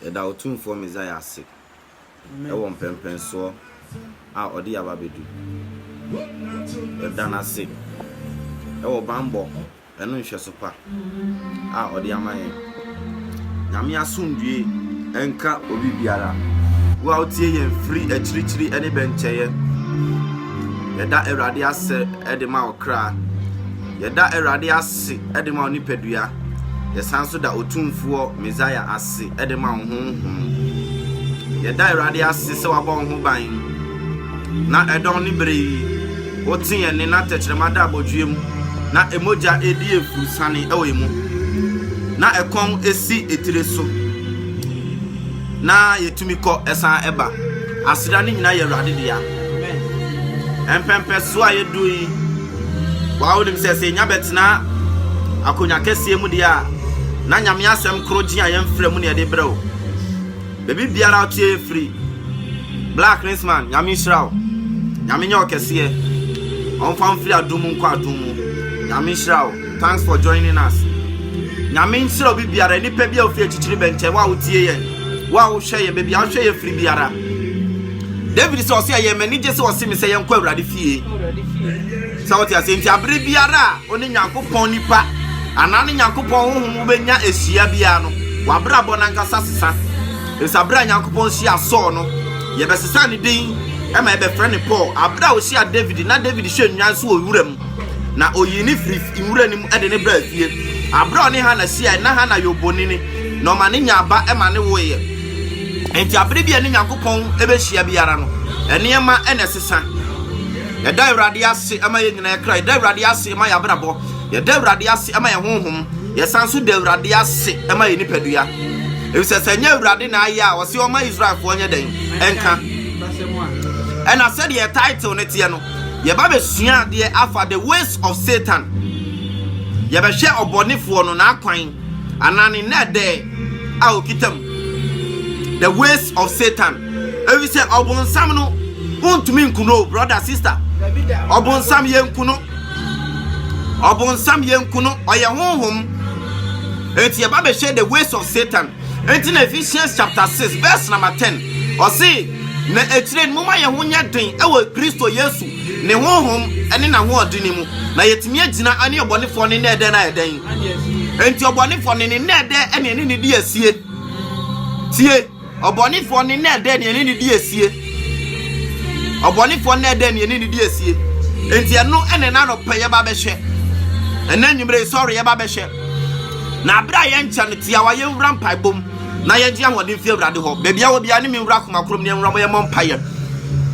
Yɛda Otumfoɔ Messiah ase wɔ mpɛnpɛnsoɔ a Ɔde yɛn aba abɛdu. Yɛda No ase wɔ banbɔ ne nhwɛso pa a Ɔde ama yɛn. Nyame asomdwoeɛ nka obi biara. Wo a wotie yɛn firi akyirikyiri ne bɛnkyɛeɛ, yɛda Awurade ase de ma wo kra. Yɛda Awurade ase de ma wo nipadua. Yɛsan nso da Otumfoɔ Mesaia ase de ma wo honhom. Yɛda Awurade ase sɛ wabɔ wo ho ban na ɛdɔn ne bere yi wote yɛn nne na tɛkyerɛma da abɔdweɛ mu na emogya edi efurusane wɔ emu na ɛkɔn si etire so. na yɛtumi kɔ san ba. Aseda no nyinaa yɛ Awurade dea. Mpɛmpɛsoɔ a yɛduru yi, waa wonim sɛ sɛ yɛnya bɛtena akonnwa kɛseɛ mu deɛ a, na Nyame asɛm koro gye a yɛmfrɛ mu ne yɛde brɛ o. Baabi biara wotie yɛ firi. Black Rinsman, Nyame nhyira wo. Nyame nyɛ wo kɛseɛ. Ɔmfa wo mfiri adom mu nkɔ adom mu. Nyame nhyira wo. Thanks for joining us Nyame nhyira obi biara nipa bi a ofi akyikyiri bɛnkyɛ wo a wotie yɛn wo a wohwɛ yɛn baabi a wohwɛ yɛn firi biara David sɛ ɔsɛ yɛ m'ani gye sɛ ɔse me sɛ yɛnkɔ Awurade fie sɛ wote ase nti abere biara a ɔne Nyankopɔn nipa anaa ne Nyankopɔn honhom wobɛnya ahyia biara no wabrabɔ nankasa sesa ɛfisɛ abere a Nyankopɔn hyia Saul no yɛbɛsesa ne din ɛma yɛbɛfrɛ ne Paul abere a ɔhyia David na David hwɛ nnwan so wɔ wuram Na oyii no firii nwura no mu de no baa fie. Berɛ a ɔne Hana hyiaeɛ no, na Hana yɛ obonini, na ɔma no nyaa ba ma no woeɛ. Enti aberɛ bi a ɛne Nyankopɔn bɛhyia biara no, nneɛma na ɛsesa. Yɛda Awurade ase ma yɛn nyinaa kra, yɛda Awurade ase ma yɛn abrabɔ, yɛda Awurade ase ma yɛn honhom, yɛsan nso da Awurade ase ma yɛn nipadua. Efisɛ sɛ ɛnyɛ Awurade na ayɛ a, ɔse ɔma Israelfoɔ nyɛ dɛn nka. Ɛna sɛdeɛ title no teɛ no, Yɛba bɛsua adeɛ afa the ways of Satan. Yɛbɛhwɛ ɔbɔnefoɔ no n'akwan anaa ne nnɛɛdɛɛ a ɔkita mu. The ways of Satan. Ɛfiri sɛ ɔbonsam no wontumi nku no o brother sister. Ɔbonsam yɛnku no. Ɔbonsam yɛnku no. Ɔyɛ honhom. Enti yɛba bɛhwɛ the ways of Satan. Enti na Ephesians chapter 6 verse number 10 ɔse Na akyire no, momma yɛn ho nyɛ den wɔ Kristo Yesu, ne Honhom ne n'ahoɔdene mu, na yɛatumi agyina ne ɔbɔnefoɔ ne nnɛɛdɛɛ no ayɛ dɛn? Enti ɔbɔnefoɔ ne ne nnɛɛdɛɛ ne ɛne ne di asie. Tie, ɔbɔnefoɔ ne nnɛɛdɛɛ ne ɛne ne di asie. Ɔbɔnefoɔ nnɛɛdɛɛ ne ɛne ne di asie. Enti ɛno ɛne na anɔpɛ yɛba bɛhwɛ. Ɛnɛ anwummere sɔre yɛba bɛhwɛ. Na abere a yɛnkyɛ no tiawa yɛnwura mpaebom. na yɛgye ahoɔden fi Awurade hɔ. Baabi a wɔ biara ne me nwura akoma koro mu ne nwura mo yɛmmɔ mpaeɛ.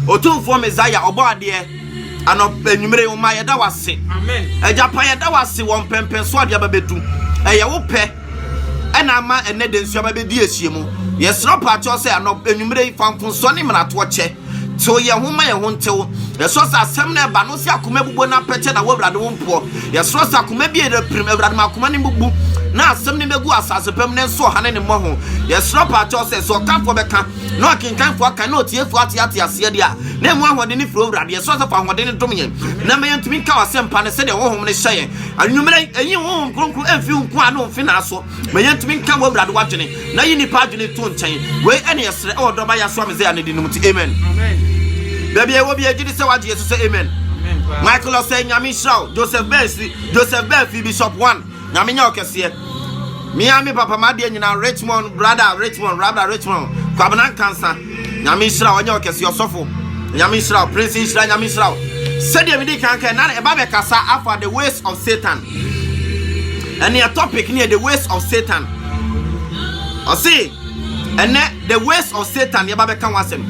Otumfoɔ Messiah, ɔbɔ adeɛ, anɔpa anwummere woma yɛda wase. Agya pa yɛda wase wɔ mpɛmpɛn so adeɛ aba bɛdu. Ɛyɛ wo pɛ ɛna ama ɛnɛ da nsuo aba bɛdi ahyia mu. Yɛsrɛ ɔpaakyɛw sɛ anɔpa anwummere yi fa mfomsoɔ ne mmaratoɔ kyɛ. Tew yɛn ho ma yɛn ho ntew. Yɛsrɛ sɛ asɛm no a ɛba no wo sɛ akoma abubu no apɛkyɛ na wo Awurade wo mpoɔ. Yɛsrɛ sɛ akoma bi a ɛyera pirim, Awurade ma akoma no mmubu na asɛm no mmɛgu asase pa mu na ɛnso ɔhane ne mmɔho. Yɛsrɛ paakyɛw sɛ sɛ ɔkanfoɔ bɛka na ɔkenkanfoɔ akan na ɔtiefoɔ ate ate aseɛ deɛ a na ɛmu ahoɔden ne firi Awurade. Yɛsrɛ sɛ fa ahoɔden no dom yɛn na ma yɛntumi nka w'asɛmpa no sɛdeɛ honhom no hyɛ yɛn anwummerɛ yi. Ɛnyi honhom kronkron mfi wo nkoa ne wo mfenaa so. Ma yɛntumi nka w'Awurade w'adwene na yi nnipa adwene to nkyɛn. Wei ɛne yɛsrɛ ɛwɔ dɔba yɛ aso amezɛa ne dinom ti. Amen. Baabi a ɛwɔ bi agye di sɛ wagye yɛso sɛ amen. Michael ɔsɛ nyame nhyira wo. Joseph Ben si Joseph Ben fi Bishop One nyame nyɛ ɔkɛseɛ. Mia me papa madeɛ nyinaa Richmond brada Richmond rabra Richmond kwabena nkansa. Nyame nhyira wo, ɔnyɛ ɔkɛseɛ ɔsɔfo. Nyame nhyira wo, Prince nhyira, Nyame nhyira wo. Sɛdeɛ medi kan kɛ, na ɛba bɛkasa afa the ways of Satan. Ɛneɛ topic neɛ the ways of Satan. Ɔse, ɛnɛ the ways of Satan yɛba bɛka ho asɛm.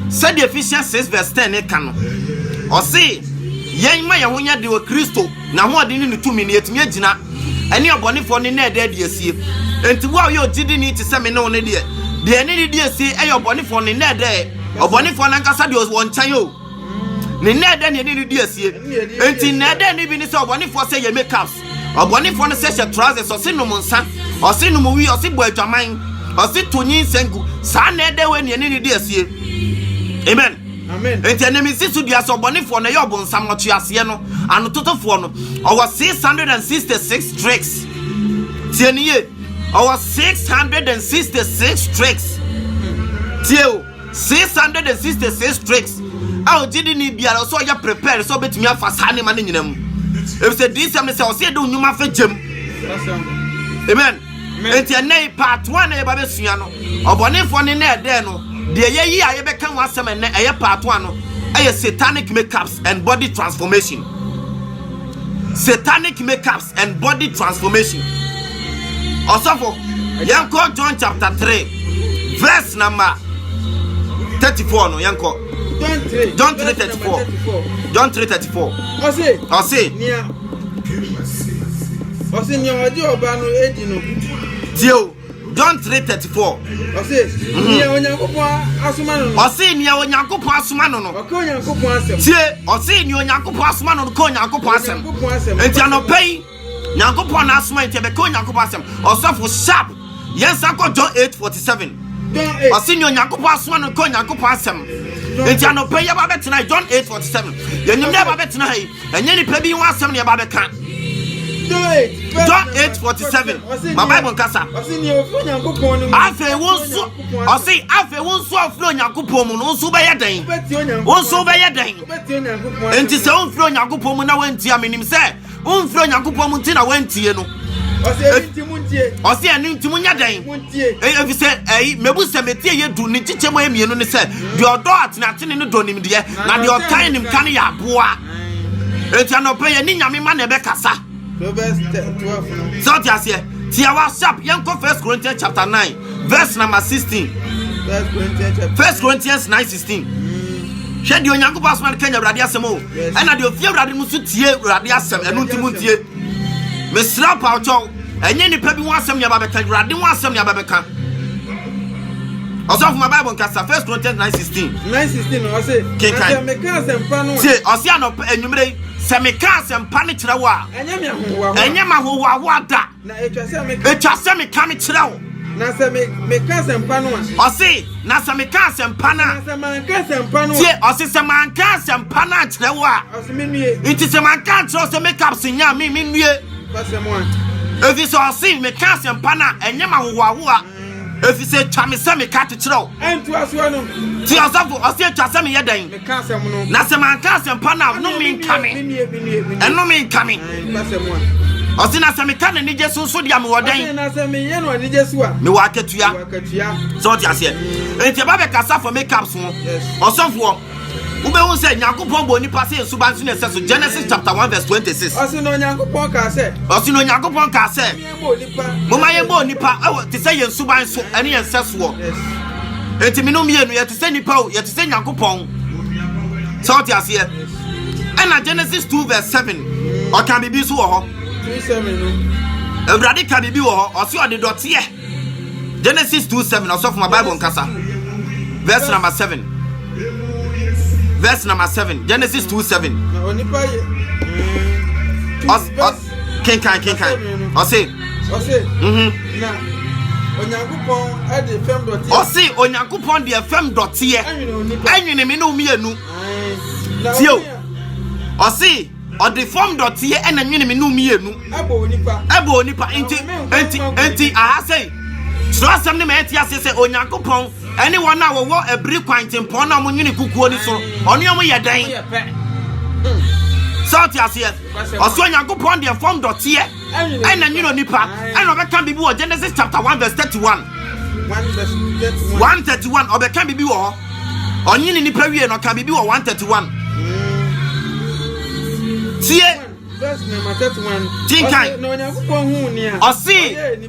Sɛdeɛ Ephesians 6 verse 10 ne ka no, ɔse, yɛn ma yɛn ho nyɛ de wɔ Kristo N'ahoɔden ne ne tumi na yɛatumi agyina ɛne ɔbɔnefoɔ no nnɛɛdɛɛ adi asie. Enti wo a woyɛ ogyidini te sɛ me ne wo no deɛ, deɛ yɛne no redi asie yɛ ɔbɔnefoɔ no nnɛɛdɛɛ, ɔbɔnefoɔ no ankasa deɛ ɔwɔ nkyɛn o, ne nnɛɛdɛɛ na yɛne no redi asie. Enti nnɛɛdɛɛ no bi ne sɛ ɔbɔnefoɔ sɛ yɛ makeups, ɔbɔnefoɔ no sɛ hyɛ trousers, ɔse nom nsa, ɔse nom wii, ɔse bɔ adwaman, ɔse to nyinsɛn gu. Saa nnɛɛdɛɛ wei na yɛne no redi asie. Amen. Enti ɛnam nsi so dua sɛ ɔbɔnefoɔ no ɛyɛ ɔbonsam ɔtweaseɛ no anototofoɔ no. Ɔwɔ 666 tricks. Tie ne yie. Ɔwɔ 666 tricks. Tie o. 666 tricks. A ɔgye di ne biara ɔsɛ ɔyɛ prepare sɛ ɔbɛtumi afa saa nneɛma no nyina mu. Efisɛ diisɛm ne sɛ ɔsɛ yɛde onyuma fa gyam. Amen. Enti ɛnnɛ yi part one na yɛba bɛsua no, ɔbɔnefoɔ ne na ɛdɛɛ no. Deɛ yɛyi a yɛbɛka ho asɛm ɛnnɛ ɛyɛ part one no ɛyɛ satanic makeups and body transformation. Satanic makeups and body transformation. Ɔsɔfo, yɛnkɔ John chapter three, verse number thirty-four no yɛnkɔ. John three thirty-four. John three thirty-four. Ɔse. Ɔse. Ɔse nea ɔde ɔba no adi no. Tie o, John 3:34. Ɔse nea Onyankopɔn asoma no no. Ɔse nea Onyankopɔn asoma no no. Ɔka Onyankopɔn asɛm. Tie, ɔse nea Onyankopɔn asoma no no ka Onyankopɔn asɛm. Nti anɔpa yi, Nyankopɔn na asoma nti ɛbɛka Onyankopɔn asɛm. Ɔsɔfo sharp. yɛn nsa kɔ john 8 47 ɔse nea onyankopɔn asoma no nka onyankopɔn asɛm nti anɔpɛ yi yɛba bɛtena john 8 47 yɛnim dɛ yɛba bɛtena ha yi ɛnyɛ nipa bi ho asɛm na yɛba bɛka john 8 47 ma bible nkasa afei wo nso ɔse afei wo nso ɔfiri onyankopɔn mu no wo nso wobɛyɛ dɛn wo nso wobɛyɛ dɛn enti sɛ womfiri onyankopɔn mu na woantia menim sɛ womfrɛ onyankopɔn mu nti na woantie no ɔse ɛno nti mu nyɛ dɛn ɛfi sɛ ɛyi mabu sɛ metie yɛ du ne nkyekyɛ mu mmienu ne sɛ deɛ ɔdɔ atenatene no dɔ nimdeɛ na deɛ ɔtan nimka no yɛ aboa enti anɔpɛ yɛ ne nyame ma na ɛbɛkasa sɛ ɔte aseɛ tiawa sharp yɛnkɔ first corinthians chapter 9 verse number 16 first corinthians 9 16 hwɛ deɛ onyankopɔn asoma no ka nya awurade asɛm o Ɛna deɛ ofie awurade no nso tie awurade asɛm ɛno nti mu ntie mesrɛ mpawokyɛw ɛnyɛ nnipa bi ho asɛm nea babɛka awurade ho asɛm nea babɛka ɔsɔfo ma bible nkasa first corinthians 9 16 9 16 na ɔse kenkan sɛ meka asɛmpa no tie ɔse anɔpa anwumerɛ yi sɛ meka asɛmpa no kyerɛ wo a ɛnyɛ ma hohoahoa da Na etwa sɛ meka. Etwa sɛ meka mekyerɛ wo. Na sɛ me meka asɛmpa no a. Ɔse na sɛ meka asɛmpa no a. Na sɛ manka asɛmpa no a. Tie ɔse sɛ manka asɛmpa no ankyerɛ wo a. Ɔse me nue. Nti sɛ manka ankyerɛ wo sɛ make up se nyɛ a me me nue. Ɔse mo a. Efi sɛ ɔse meka asɛmpa no a ɛnyɛ ma hohoahoa. efisɛ atwa me sɛ meka to kyerɛ wo nti ɔsɔfo ɔse atwa sɛ meyɛ dɛn na sɛ manka asɛmpa no a no menka me ɛno menka me ɔse na sɛ meka n'anigye so nso deɛ mewɔ dɛn mewɔ akatua sɛ ɔte aseɛ enti ɛba bɛkasa fɔ makeup so ɔsɔfoɔ wobɛhu sɛ nyankopɔn bɔ nnipa sɛ nsuba nso ne ɛsɛ so genesis chapter 1 verse 26 ɔse na onyankopɔn kaa sɛ ɔse na onyankopɔn kaa sɛ Momma yɛmmɔ onipa wɔ te sɛ yɛn suban so ne yɛn nsɛsoɔ. Enti me no mmienu yɛte sɛ nipa o, yɛte sɛ Nyankopɔn. Sɛ ɔte aseɛ. Ɛna Genesis 2 verse 7 ɔka biribi nso wɔ hɔ. Awurade ka biribi wɔ hɔ, ɔse ɔde dɔteɛ. Genesis 2 7 ɔsɔfo ma Bible nkasa. Verse number 7. Verse number 7. Genesis 2 7. kenkan kenkan ɔse ɔse mhm. na onyankopɔn ɛde fam dɔteɛ ɔse onyankopɔn deɛ fam dɔteɛ ɛnwene me ne wo mmienu tie o ɔse ɔde fam dɔteɛ ɛna nwene me ne wo mmienu ɛbɔ onipa nti nti nti aha sɛi soro asɛm ne ma ɛte ase sɛ onyankopɔn ɛne wɔn a wɔwɔ abiri kwan tempɔn na wɔnwene kukuo no so ɔne wɔn yɛ dɛn sɛ ɔte aseɛ ɔsoro nyankopɔn deɛ fam dɔteɛ ɛna nwene onipa ɛna ɔbɛka biribi wɔ genesis chapter 1 verse 31 131 ɔbɛka biribi wɔ hɔ ɔnyene nipa wie no ɔka biribi wɔ 131 tie tinkan ɔse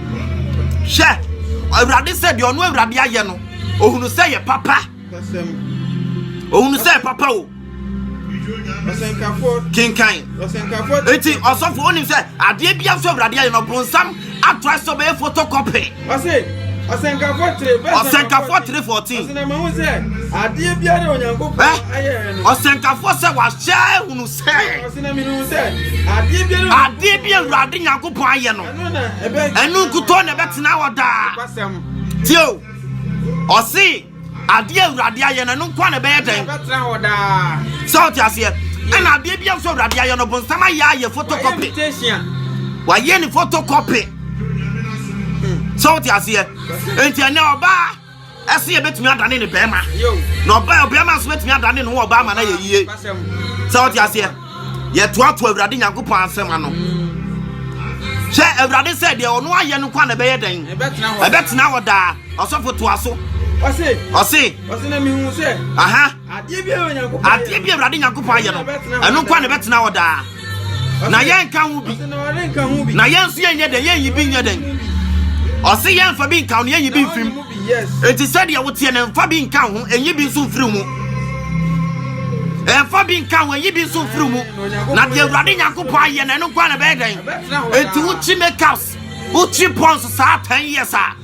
hwɛ awurade sɛ deɛ ɔno awurade ayɛ no ohunu sɛ yɛ papa ohunu sɛ yɛ papa o kenkan eti ɔsɔfo onim sɛ adeɛ bi afɔ awurade ayɛ no bonsam ato asɔ bɛyɛ photocopy. ɔsɛnkafo tiri bɛ ɔsɛnkafo tiri fourteen. ɔsɛnɛmɛhu sɛ adeɛ biara onyankopɔn ayɛ no. ɔsɛnkafo sɛ wahyɛ ehunu adeɛ bi awurade nyankopɔn ayɛ no ɛno nkutɔ na ɛbɛtena hɔ daa tio ɔse adeɛ awurade ayɛ no ɛno nkoa na ɛbɛyɛ dɛn sɛ ɔte aseɛ ɛna adeɛ bi a nso awurade ayɛ no bonsam ayɛ ayɛ photocopy wayɛ ne photocopy sɛ ɔte aseɛ nti ɛnɛ ɔbaa ɛse yɛbɛtumi adane ne bɛrima na ɔbaa ɔbɛrima nso bɛtumi adane ne ho ɔbaa ma no yɛ yie sɛ wote aseɛ yɛtoatoa awurade nyankopɔn asɛm ano hwɛ awurade sɛ deɛ ɔno ayɛ no kwa na ɛbɛyɛ dɛn ɛbɛtena hɔ daa ɔsɔfo toa so ɔse ɔse na mehu sɛ aha Adeɛ bi a Awurade Nyankopɔn ayɛ no, ɛno nko a na ɛbɛtena hɔ daa. Na yɛnka ho bi, na yɛn nso yɛnyɛ dɛn, yɛnyi bi nyɛ dɛn. Ɔse yɛmfa bi nka ho, na yɛnyi bi mfiri mu. Enti sɛdeɛ woteɛ no, mfa bi nka ho, ɛnyi bi nso mfiri mu. ɛmfa bi nka ho ɛyi bi nso mfiri mu na deɛ awurade nyankopɔn ayɛ na ɛno nkoa na ɛbɛyɛ dɛn ɛnti wokyi makeups wokyi pons saa 10 years a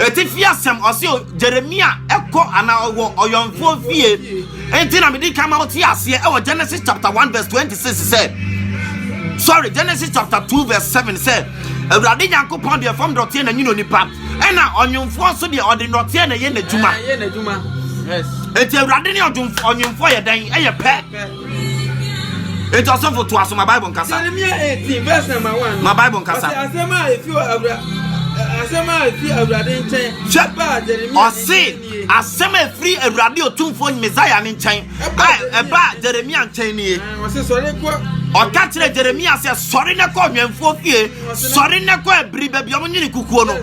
Atifi asɛm, ɔse Jeremia kɔ anaa ɔwɔ ɔyɔnfoɔ fie. Enti na mede kan ma wote aseɛ ɛwɔ Genesis chapter 1 verse 26 sɛ, sorry, Genesis chapter 2 verse 7 sɛ, Awurade Nyankopɔn deɛ fam dɔteɛ na nyini onipa, ɛna ɔnwomfoɔ nso deɛ ɔde dɔteɛ na ɛyɛ n'adwuma. Enti Awurade ne ɔnwomfoɔ yɛ dɛn? Ɛyɛ pɛ. Enti ɔsɔfo toa so ma Bible nkasa. Jeremia 18 verse number 1. Ma Bible nkasa. Ɔsɛ asɛm a efi awura asɛm a efi awurade nkyɛn. Ba Jeremia. Ɔse asɛm a efiri awurade otumfoɔ Messiah ne nkyɛn. A ɛba Jeremia nkyɛn nie. Ɔse sɔre kɔ. Ɔka kyerɛ Jeremia sɛ sɔre na kɔ ɔnwɛnfoɔ fie. Sɔre na kɔ abiri baabi a wɔnyini kukuo no.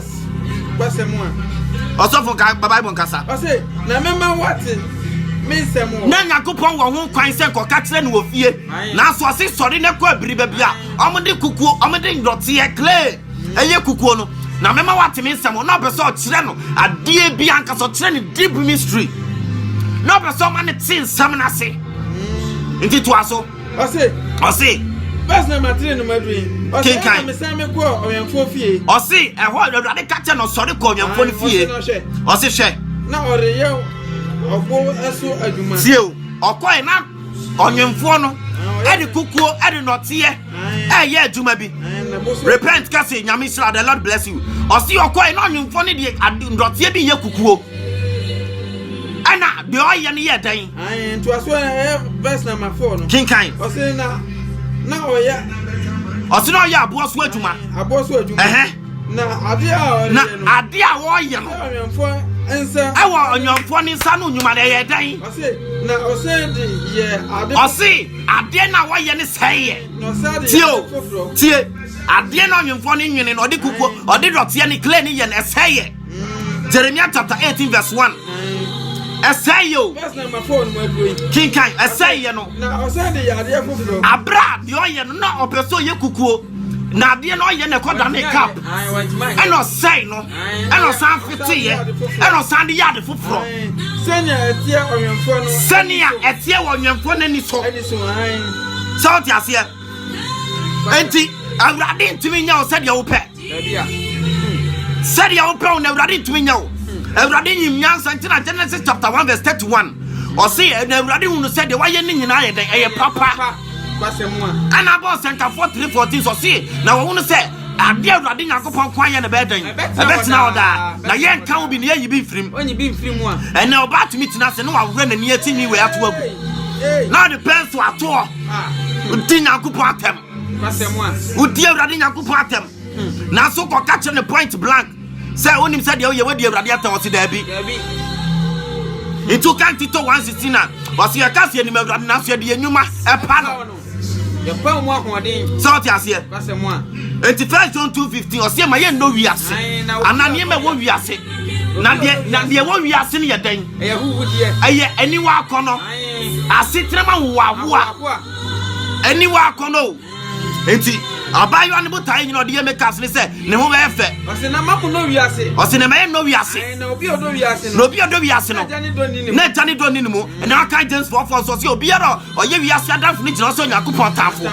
w'asɛm a. Ɔsɔfo ka ba Bible nkasa. Ɔse na mɛma wate me nsɛm wɔ. Na Nyankopɔn wɔ ho kwan sɛ kɔka kyerɛ no wɔ fie. Nanso ɔse sɔre na kɔ abiri baabi a ɔmo de kukuo ɔmo de nnɔteɛ clay ɛyɛ kukuo no na mɛma wate me nsɛm na ɔpɛ sɛ ɔkyerɛ no adeɛ bi ankasa ɔkyerɛ no deep mystery na ɔpɛ sɛ ɔma no te nsɛm no ase nti toa so. Ɔse. Ɔse. Bɛs na ma tiri no ma dwi. Ɔse ɛna me san me kɔ ɔwɛnfoɔ fie. Ɔse ɛhɔ awurade ka kyɛ no sɔre kɔ ɔwɛnfoɔ no fie. Ɔse hwɛ. Na ɔreyɛ ɔbo ɛso adwuma. Tie o ɔkɔɛ na ɔwɛnfoɔ no ɛde kukuo ɛde nɔteɛ ɛyɛ adwuma bi. Repent kase nyame sira the lord bless you. Ɔse ɔkɔɛ na ɔwɛnfoɔ no de nɔteɛ bi yɛ kukuo. Ɛna deɛ ɔyɛ no yɛ dɛn. Ae, ntoasoɔ no ɛyɛ verse number four no. Kenkan. Ɔse na na ɔyɛ. Ɔse na ɔyɛ aboɔ so adwuma. Aboɔ so adwuma. Ɛhɛn. Na adeɛ a ɔyɛ no. Na adeɛ a ɔyɛ no. Ɔnwɛnfoɔ nsa. Ɛwɔ ɔnwɛnfoɔ ne nsa no nnwuma no ɛyɛ dɛn? Ɔse na ɔse de yɛ ade. Ɔse adeɛ na ɔyɛ ne sɛn yɛ. Na ɔsa de yɛ ade foforɔ. Tie, adeɛ na ɔnwɛnfoɔ ne nwene no ɔde kukuo ɔde dɔteɛ ne clay ne yɛ no ɛsɛn yɛ. Jeremiah chapter 18 verse 1. ɛsɛe yɛ o kenkan ɛsɛe yɛ no abira deɛ ɔyɛ no na ɔpɛ sɛ ɔyɛ kukuo na adeɛ no ɔyɛ na ɛkɔ da ne cap ɛna ɔsɛe no ɛna ɔsan feteyɛ ɛna ɔsan de yɛ ade foforɔ sɛnea ɛteɛ ɔnwɛnfoɔ no sɛnea ɛteɛ wɔ ɔnwɛnfoɔ no ani so sɛ ɔte aseɛ nti awurade ntumi nyɛ wo sɛdeɛ wopɛ sɛdeɛ wopɛ wo na awurade ntumi nyɛ wo awurade nyim nyansa nti na genesis chapter 1 verse 31 ɔse na awurade hunu sɛ deɛ wayɛ ne nyinaa yɛ dɛn ɛyɛ papa ɛna bɔɔ sɛntafoɔ 314 sɛ ɔse na wɔwo no sɛ adeɛ awurade nyankopɔn ko ayɛ no bɛyɛ dɛn ɛbɛtena hɔ daa na yɛnka wo bi ne yɛyi bi mfirim ɛnɛ ɔba atumi tena ase ne wawerɛ n'ani asi nwi wei ato agu na ɔde pɛn so atoɔ di nyankopɔn atɛm wodi awurade nyankopɔn atɛm nanso kɔka kyerɛ ne point blank sɛ wonim sɛ deɛ woyɛ wadi awurade atɛm ɔse daabi nti woka ntito 116 na ɔse yɛka sɛ yɛnim awurade nanso yɛde yɛ nnwuma ɛpa no yɛpa mu ahoɔden sɛ wote aseɛ nti first john 215 ɔseɛ ma yɛnnɔ wiase anaa nneɛma ɛwɔ wiase na deɛ na deɛ ɛwɔ wiase no yɛ dɛn ɛyɛ aniwa akɔnɔ asetena ma wowawoa aniwa akɔnɔ o nti abaayewa no botae nyina ɔde yɛ makeups ne sɛ ne ho bɛyɛ fɛ ɔse na ma kɔnɔ wiase ɔse na ma yɛ nnɔ wiase na obi ɔdɔ wiase no na obi ɔdɔ wiase no na agya ne dɔ ne ne mu ɛna aka James fɔfɔ nso ɔse obiara ɔyɛ wiase adamfo no gyina ɔsɛ Onyankopɔn tamfo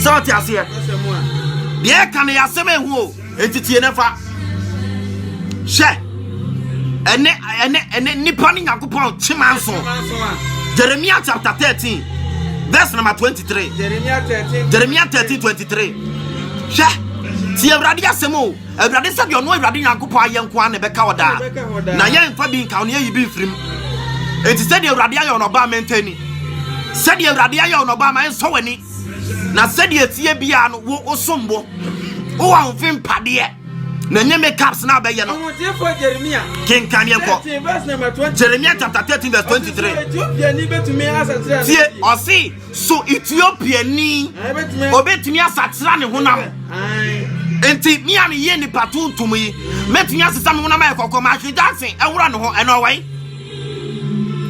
sɛ ɔte aseɛ deɛ ɛka no yɛ asɛm ɛho o Enti tie na fa. Hyɛ ɛne ɛne ɛne nipa ne Nyankopɔn kyema nso. Jeremiah chapter thirteen verse number twenty three. Jeremiah thirteen twenty three. Hyɛ. ti awurade asɛm o awurade sɛ deɛ ɔno awurade nyankopɔn ayɛ nko a na ɛbɛka hɔ daa na yɛmfa bi nka ɔne ayi bi mfirim enti sɛdeɛ awurade ayɛ ɔnɔba ma ɛntani sɛdeɛ awurade ayɛ ɔnɔba ma ɛnsɔ w'ani na sɛdeɛ ɛteɛ biara no wo wosom bo wowɔ ahofe mpadeɛ na ɛnyɛ makeups na abɛyɛ no kenkan yɛn kɔ jeremia chapter thirteen verse twenty three tie ɔse so ethiopiani obetumi asakyera ne honam nti mi a mi yɛ nipa tuntum yi mɛtumi asesa mi honam ayɛ kɔkɔɔ ma ahwɛ gyansen ɛwura ne ho ɛna ɔwɛn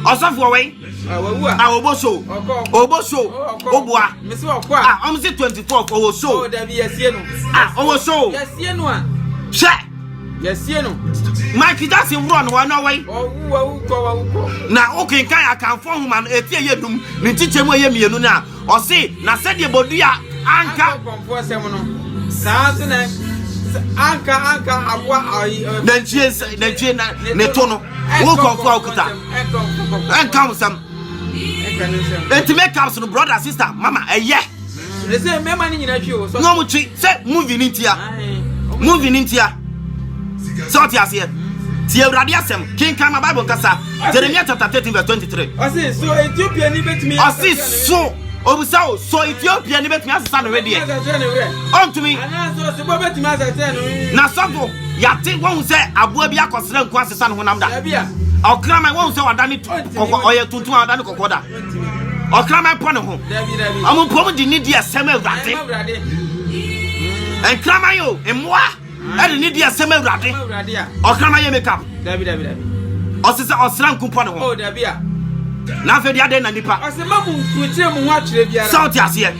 ɔsɔfo ɔwɛn. ɔwɔ so ɔwɔ so ɔboa a ɔmo se twenty four ɔwɔ so oh, a ɔwɔ so hwɛ yɛsie no mike jackson worɔ no wɔne ɔwɔi na wokenkan akanfoɔ nwoma no ɛti ɛyɛ num ne nkyekyɛ mu ɛyɛ mmienu no a Ɔse, na sɛdeɛ bodua anka. Anka ɔkɔmfoɔ sɛm no, saa ara nso na anka anka aboa ayi. Nantwie nsa nantwie na ne to no. Wo kɔmfoɔ a okuta. Ɛnka ho sɛm. Eti make ups no brother sister mama ɛyɛ. Ɛsɛ mmarima no nyinaa twi o. Na wɔn twi sɛ movie ni ntia. Movie ni ntia. Sɛ ɔte aseɛ. Ti awurade asɛm. Kenkan ma Bible nkasa. Jeremia chapter thirteen verse twenty-three. Ɔsi so Ethiopia ni betumi. Ɔsi so obisa o so Ethiopia ni betumi asesa ne wedeɛ. Ɔntumi. Anaasɛ ɔsi bɔ betumi asesa ne wedeɛ. Na sɔfo yate wɔn sɛ aboa bi akɔsra nko asesa ne honam da. Ɔkraman wɔn sɛ ɔda ne kɔkɔ ɔyɛ tuntum a ɔda ne kɔkɔ da. Ɔkraman pɔ ne ho. Ɔmo mpɔm di ne di asɛm awurade. Nkraman o mmoa. ɛde ne deɛ sɛm awurade ɔkrama yɛ makeup ɔse sɛ ɔsra nkumpɔ ne ho oh, na afei deɛ adɛn na nnipa sɛ wote aseɛ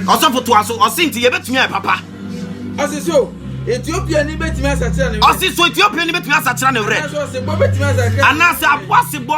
ɔsɔfo toa so ɔse nti yɛbɛtumi ayɛ papa ɔse so ethiopia ni bɛtumi asakyera ne werɛ ɔse so ethiopia ni bɛtumi asakyera ne werɛ anaasɛ aboa sebɔ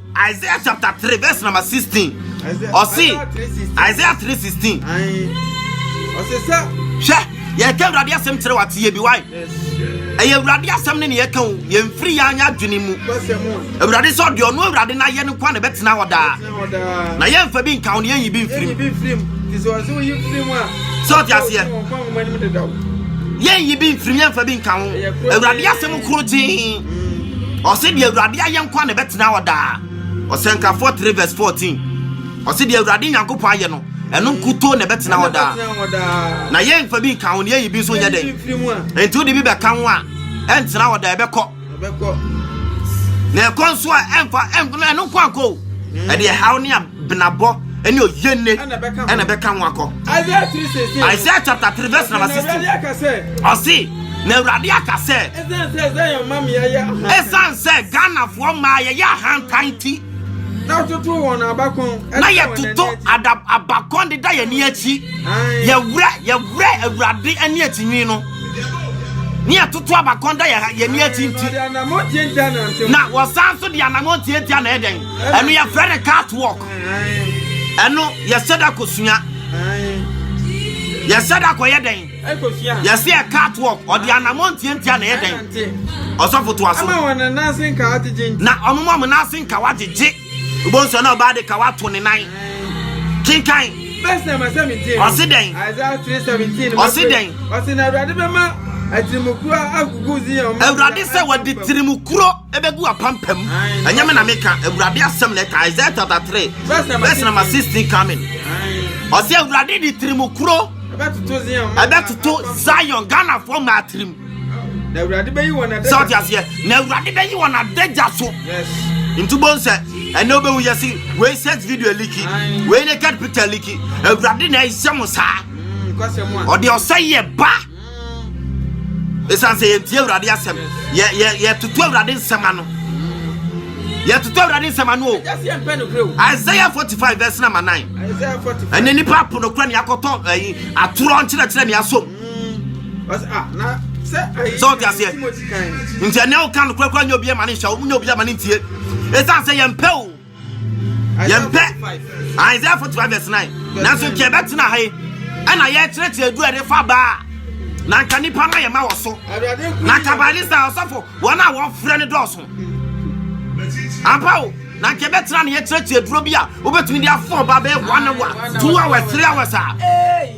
Isaiah chapter three verse number sixteen. Ɔsi Isaiah three sixteen. Ɔsi sɛ. Hwɛ yɛka awurade asɛm kyerɛ wa tie bi wa. Ɛyɛ awurade asɛm ne ne yɛka o yɛmfiri yɛn anya adwene mu. Awurade sɛ ɔde ɔno awurade no ayɛ no kwa na ɛbɛtena hɔ daa. Na yɛmfa bi nka wo na yɛnyi bi mfirim. Sɛ ɔte aseɛ yɛnyi bi mfirim yɛmfa bi nka ho awurade asɛm koro gyee ɔse deɛ awurade ayɛ nko a na ɛbɛtena hɔ daa ɔsɛnkafoɔ 3 vs 14 ɔse deɛ awurade nyankopɔn ayɛ no ɛno nkutoo na ɛbɛtena hɔ daa na yɛn mfa bi nka ho ne yɛyi bi nso nyɛ dɛn nti wode bi bɛka ho a ɛntena hɔ daa ɛbɛkɔ na ɛkɔ nso a ɛmfa ɛno nko ankɔ o ɛde ɛhaw ne benabɔ ne oyienne ɛna ɛbɛka ho akɔ Isaiah chapter three verse number sixteen ɔsi na awurade aka sɛ ɛsan sɛ ghanafoɔ maa yɛyɛ ahantan ti na yɛtoto wɔn abakɔn na yɛtoto abakɔn de da yɛn ani akyi yɛwura yɛwura awurade ani akyi nwi no ne yɛtoto abakɔn da yɛn ani akyi nti na wɔsan so de anamɔntiatia na ɛdɛn ɛno yɛfrɛ no cat walk ɛno yɛsɛ da kosua yɛsɛ da kɔyɛ dɛn yɛsɛ yɛ cat walk ɔde anamɔ ntiantia na yɛ dɛn ɔsɔfo to aso na ɔmo ɔmo nase nka wagyegye wobɔ nsɔ na ɔbaa de ka wato ne nan kenkan ɔse dɛn ɔse dɛn ɔse na awurade bɛma atirimukuro agugu zion awurade sɛ wɔde tirimukuro ɛbɛgu apampam ɛnyɛ me na meka awurade asɛm na ɛka isaiah chapter 3 verse number 16 coming ɔsɛ awurade de tirimu kuro ɛbɛtoto zion ghanafoɔ mmaa tirim sɛ ɔte aseɛ na awurade bɛyi wɔn adagya so nti bɔn sɛ ɛnɛ wobɛhu yɛ se wei set video liki wei naked picture liki awurade na ɛyɛ mo saa ɔde ɔsɛ yɛ ba ɛsiane sɛ yɛntie awurade asɛm yɛtoto awurade nsɛm ano yɛtoto awurade nsɛm ano o isaiah 45 verse number 9 ɛne nnipa apo no kora ne akɔtɔ atorɔ nkyerɛkyerɛ ne asom sɛ wote aseɛ nti ɛnɛ woka no korakora nyɛ obiɛ ma ne nhyɛ wo nyɛ obiɛ ma ne ntie ɛsiane sɛ yɛmpɛ o yɛmpɛ isaiah 45 vs 9 nanso nka ɛbɛtena ha yi ɛna yɛkyerɛkyerɛ adu a ɛde fa baa na nka nipa no yɛ ma wɔ so na nka balista ɔsɔfo wɔn a wɔfrɛ no dɔɔso ampa o na nka ɛbɛtena ne yɛkyerɛkyerɛ duro bi a wobɛtumi de afɔ ba bɛyɛ one hour two hours three hours a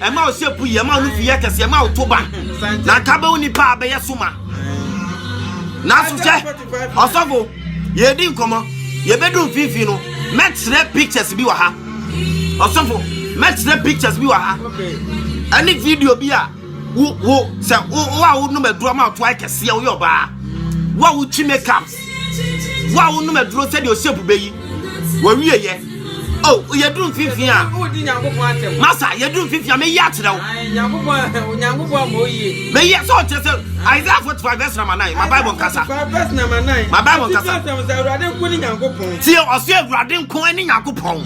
ɛma wo sɛ pu yɛ ɛma wo nufu yɛ kɛse ɛma wo to ba na nka bɛwo nipa a bɛyɛ so ma nanso sɛ ɔsɔfo yɛdi nkɔmmɔ yɛbɛdu mfimfini no mɛkyerɛ pictures bi wɔ ha ɔsɔfo mɛkyerɛ pictures bi wɔ ha ɛne video bi a wo wo sɛ wo wo a wonom aduro ama ɔto ayɛ kɛseɛ woyɛ ɔbaa wo a wotwi makeup wo a wonom aduro sɛdeɛ ɔsɛ pu bɛyi wɔwieyɛ Oh, yɛduru mfimfini a. Masa, yɛduru mfimfini a meyi akyerɛ wo. Meyi sɛ ɔkyerɛ sɛ Isaiah 45 verse number 9. Ma Bible nkasa. Ma Bible nkasa. Tie ɔsɛ Awurade nko ne Nyankopɔn.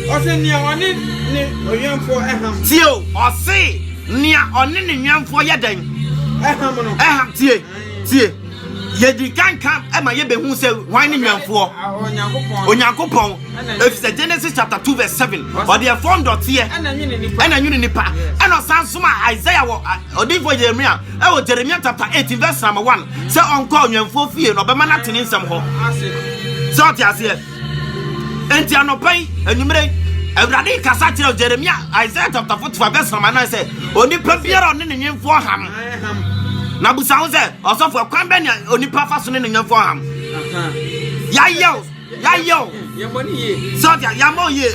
Ɔsɛ nea ɔne ne ɔwɛmfoɔ ɛham. Tie o, ɔse nea ɔne ne nwɛmfoɔ yɛ dɛn? Ɛham no. Ɛham tie tie. yɛdi kan ka ma yɛbɛhu sɛ hwan ne nwɛmfoɔ onyankopɔn ɛfiri sɛ genesis chapter 2 verse 7 ɔde ɛfɔ ndɔteɛ ɛna nwene nipa ɛna ɔsan soma isaiah wɔ ɔdinfoɔ yeremia ɛwɔ jeremia chapter 18 verse number 1 sɛ ɔnkɔ onwɛmfoɔ fie na ɔbɛma no atene nsɛm hɔ sɛ ɔte aseɛ Enti anɔpa yi, anwummere yi, Awurade rekasa kyerɛ Jeremia, Isaiah chapter 45 verse number 9 sɛ, onipa biara ɔne ne nwemfoɔ ham. Na busa ho sɛ, ɔsɔfo, ɛkwan bɛn na onipa fa so ne ne nwemfoɔ ham? Yɛayɛ o, yɛayɛ o. Sɛ ɔte yɛmmɔ yie.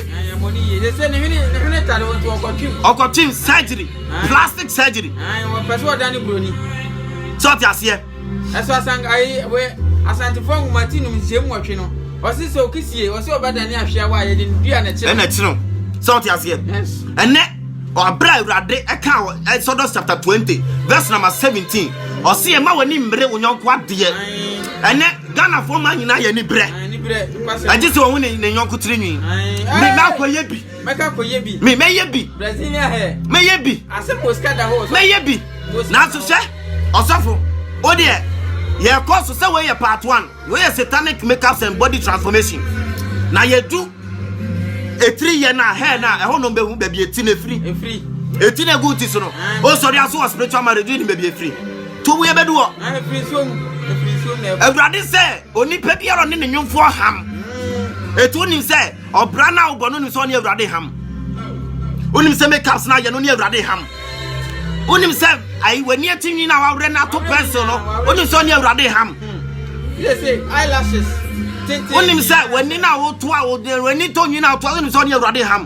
Ɔkɔtwem surgery, plastic surgery. Sɛ ɔte aseɛ. Nso asank ayi we Asantefoɔ nwoma ti nom nhyiam nwɔtwe no ɔsi sɛ okisie ɔsi ɔbɛdane ahwea wɔ a yɛde no dua na ɛkyi no. Ɛna ɛkyi no sɛ ɔte aseɛ. Yes. Ɛnɛ ɔabere a awurade ɛka wɔ Exodus chapter twenty verse number seventeen ɔsi ɛma wɔn ani mmere wɔn yɔnko adeɛ. Ɛnɛ Ghana fo maa nyinaa yɛ ani brɛ. Ɛgye sɛ wɔn ho ne ne yɔnko tiri nwi. Ɛɛ. Mɛ akɔ yɛ bi. Mɛka kɔyɛ bi. Me mɛyɛ bi. Brazilian hair. Mɛyɛ bi. Asɛm wɔ sika da hɔ. Mɛyɛ bi. Nanso hwɛ ɔsɔfo o deɛ yɛkɔ so sɛ wei yɛ part one wei yɛ satanic makeups and body transformation na yɛdu etiri yɛ na hair na ɛhɔ nom bɛhu baabi eti na efiri eti na egu ti so no o sɔre aso wɔ spiritual marriage ni baabi efiri to wo yɛ bɛdu hɔ awurade sɛ onipa biara ne ne nyomfoɔ ham etu onim sɛ. Ɔbra no a wobɔ no nim sɛ ɔne Awurade ham. Wonim sɛ makeups no ayɛ no ne Awurade ham. Wonim sɛ ayi w'ani ati nwi no a wawerɛ no ato pencil no wonim sɛ ɔne Awurade ham. Wonim sɛ w'ani no a woto a w'ani tɔ nwi no a woto a wonim sɛ ɔne Awurade ham.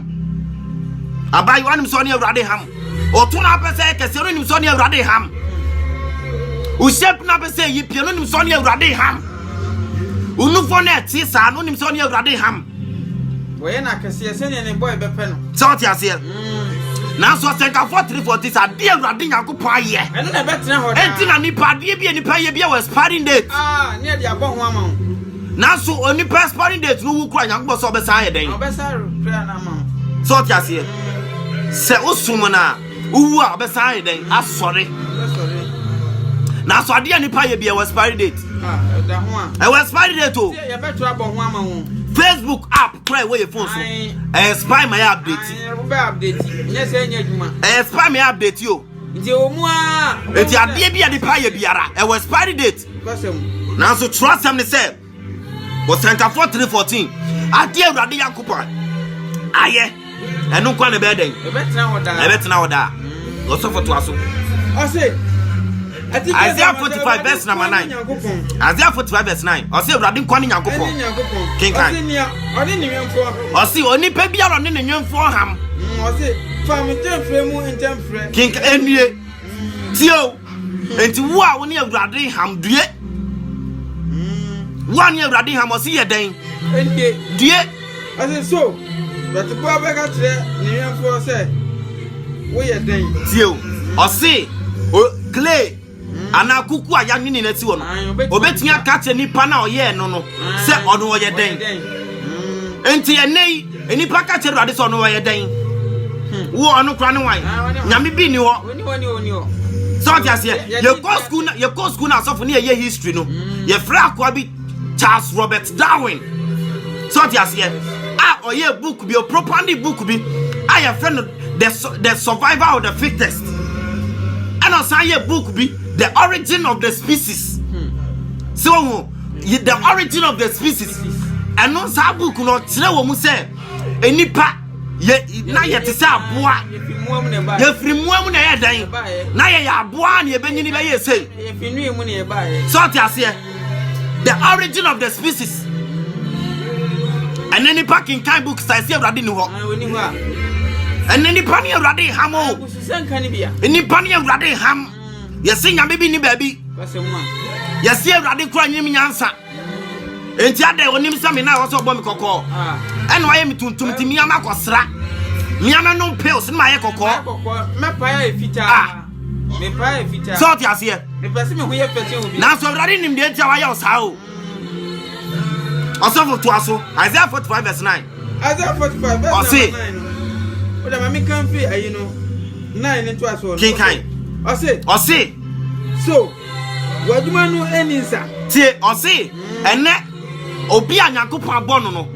Abaayewa nim sɛ ɔne Awurade ham. Ɔto no apɛ sɛ ɛkɛseɛ no wonim sɛ ɔne Awurade ham. Wohyɛ bi no apɛ sɛ ɛyi pie no wonim sɛ ɔne Awurade ham. Onufo no a ɛte saa no nim sɛ ɔne Awurade ham. Wɔyɛ no akɛseɛ sɛdeɛ ne bɔe bɛpɛ no. Sɛ ɔte aseɛ. Mm. Nanso ɔsɛnkafoɔ terefoɔ nti sɛ adeɛ Awurade Nyankopɔn ayɛ. Ɛno na ɛbɛtena hɔ daa. Enti na nipa adeɛ bi a nipa yɛ bi wɔ expiring date. Ah, ne ɛde abɔ ho ama wo. Nanso onipa expiring date no wu kura Nyankopɔn sɛ ɔbɛsan ayɛ dɛn? Ɔbɛsan kura no ama wo. Sɛ ɔte aseɛ. Sɛ wosom no a. Wowu a ɔbɛsan ayɛ dɛn? Asɔre. Nanso adeɛ a nipa yɛ bi ɛwɔ expiry date. Ɛwɔ expiry date o. Facebook app kura ɛwɔ yɛ phone so. Ɛyɛ spy ma yɛ update. Ɛyɛ spy ma yɛ update o. Nti adeɛ bi a nipa yɛ biara ɛwɔ expiry date. Nanso twerɛ asɛm ne sɛ. ɔsɛnkafoɔ 314 adeɛ awurade nyankopɔn ayɛ ɛno nkwa ne bɛɛ dɛn ɛbɛtena hɔ daa ɔsɔfo toa so Isaiah 45 verse number 9 Isaiah 45 verse 9 ɔsɛ awurade nkwa ne nyankopɔn kenkan ɔse onipa biara ɔne ne nwemfoɔ ham mm, kenkan ɛnie tio Enti wo a wo ne Awurade nham, due. Wo a ne Awurade nham, ɔse yɛ dɛn? Ɛnde. Due. Ɔse so, dɔteboa bɛka kyerɛ ne wɛmfoɔ sɛ, Woyɛ dɛn? Tie o, ɔse, o, clay anaa kuku a yɛanwene no asi hɔ no, obetumi aka kyerɛ nipa no a ɔyɛɛ no no sɛ ɔno ɔyɛ dɛn? Enti ɛnɛ yi, Nnipa ka kyerɛ Awurade sɛ ɔno ɔyɛ dɛn? Hmm. Wo ɔno kora ne wan? Nyame bi nni hɔ. Sɛ ɔte aseɛ, yɛkɔ sukuu na yɛkɔ sukuu na asɔfo ne yɛyɛ history no, hmm. yɛfrɛ akoa bi Charles Robert Darwin. Sɛ ɔte aseɛ, a ɔyɛ book bi, ɔpropandi book bi, a yɛfrɛ no the survival of the fittest. Ɛna ɔsan yɛ book bi, the origin of the species. Hmm. Sɛ wɔn Yi The Origin of the Species, ɛno saa book no ɔkyerɛ wɔ mu sɛ nnipa yɛ na yɛte sɛ aboa yɛfiri mmoa mu na ɛyɛ dan na yɛyɛ aboa na yɛbɛnyini bɛyɛ sei sɛ ɔte aseɛ the origin of the species ɛne nipa kenkan book sa ɛsi awurade ni hɔ ɛne nipa ne awurade ham o nipa ne awurade ham yɛse nyame bi ni baabi yɛse awurade kora nyim nyansa enti adɛn onim sɛ me na ɛwɔ sɛ ɔbɔ me kɔkɔɔ ah. ɛna wayɛ me tuntum nti mea makɔsra mea mɛnom pills ne mayɛ kɔkɔɔ ah. sɛ ɔte aseɛ nanso awurade nim deɛ nti a wayɛ wo saa o Ɔsɔfo toa so, Isaiah 45 verse 9. Isaiah 45 verse Ɔse. number 9 no. Wode ma meka mfiri ayi no 9 ne ntoa soɔ no. Kenkan. Ɔse. Ɔse. So, w'adwuma no ɛni nsa. Tie, ɔse, ɛnɛ obi a Nyankopɔn abɔ no no,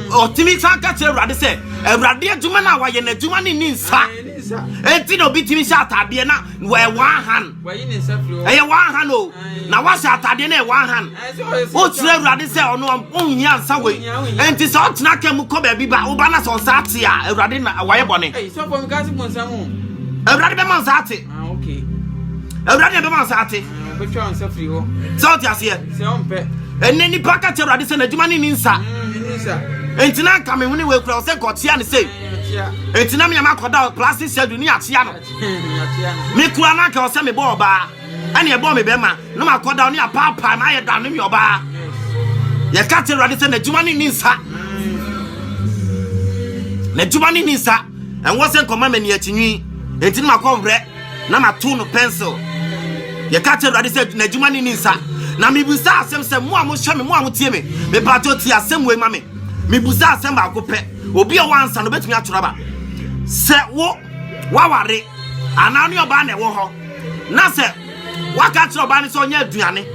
ɔtumi san ka kyerɛ Awurade sɛ, Awurade adwuma no a wayɛ no adwuma no nni nsa. Ɛni nsa. Enti na obi tumi hyɛ ataadeɛ na wɔɛwaa han. ɛyɛ one hand o na wahyɛ atadeɛ no yɛ one hand wokyerɛ awurade sɛ ɔno ɔnhia nsa wei ɛnti sɛ ɔtena ka mu kɔ baabi ba woba na sɛ ɔnsa ate a awurade na wayɛ bɔne awurade bɛma nsa ate awurade na bɛma nsa ate sɛ wote aseɛ ɛnɛ nipa ka kyɛ awurade sɛ n'adwuma ne ni nsa ɛnti na anka mehwene wei kura wo sɛ nkɔkyea ne sei ɛnti na meama kɔda plastic surgery ne akyea no Me kura na anka ɔsɛ me bɔ ɔbaa ɛne ɛbɔ me bɛma na ma kɔ da ɔne apaapaa ma ayɛ da ne me ɔbaa yɛ ka te awurade sɛ n'adwuma ne ne nsa n'adwuma ne ne nsa ɛnwɔ sɛ nkɔma mɛ ne akyi nwi enti na ma kɔ werɛ na ma to no pencil yɛ ka te awurade sɛ n'adwuma ne ne nsa na me busa asɛm sɛ mo a mo hyɛ me mo a mo tie me me pato tie asɛm wei ma me me busa asɛm baako pɛ obi a wɔansa no betumi atoraba sɛ wo waware anaa wo ne ɔbaa na ɛwɔ hɔ na sɛ waka kyerɛ ɔbaa no sɛ ɔnyɛ aduane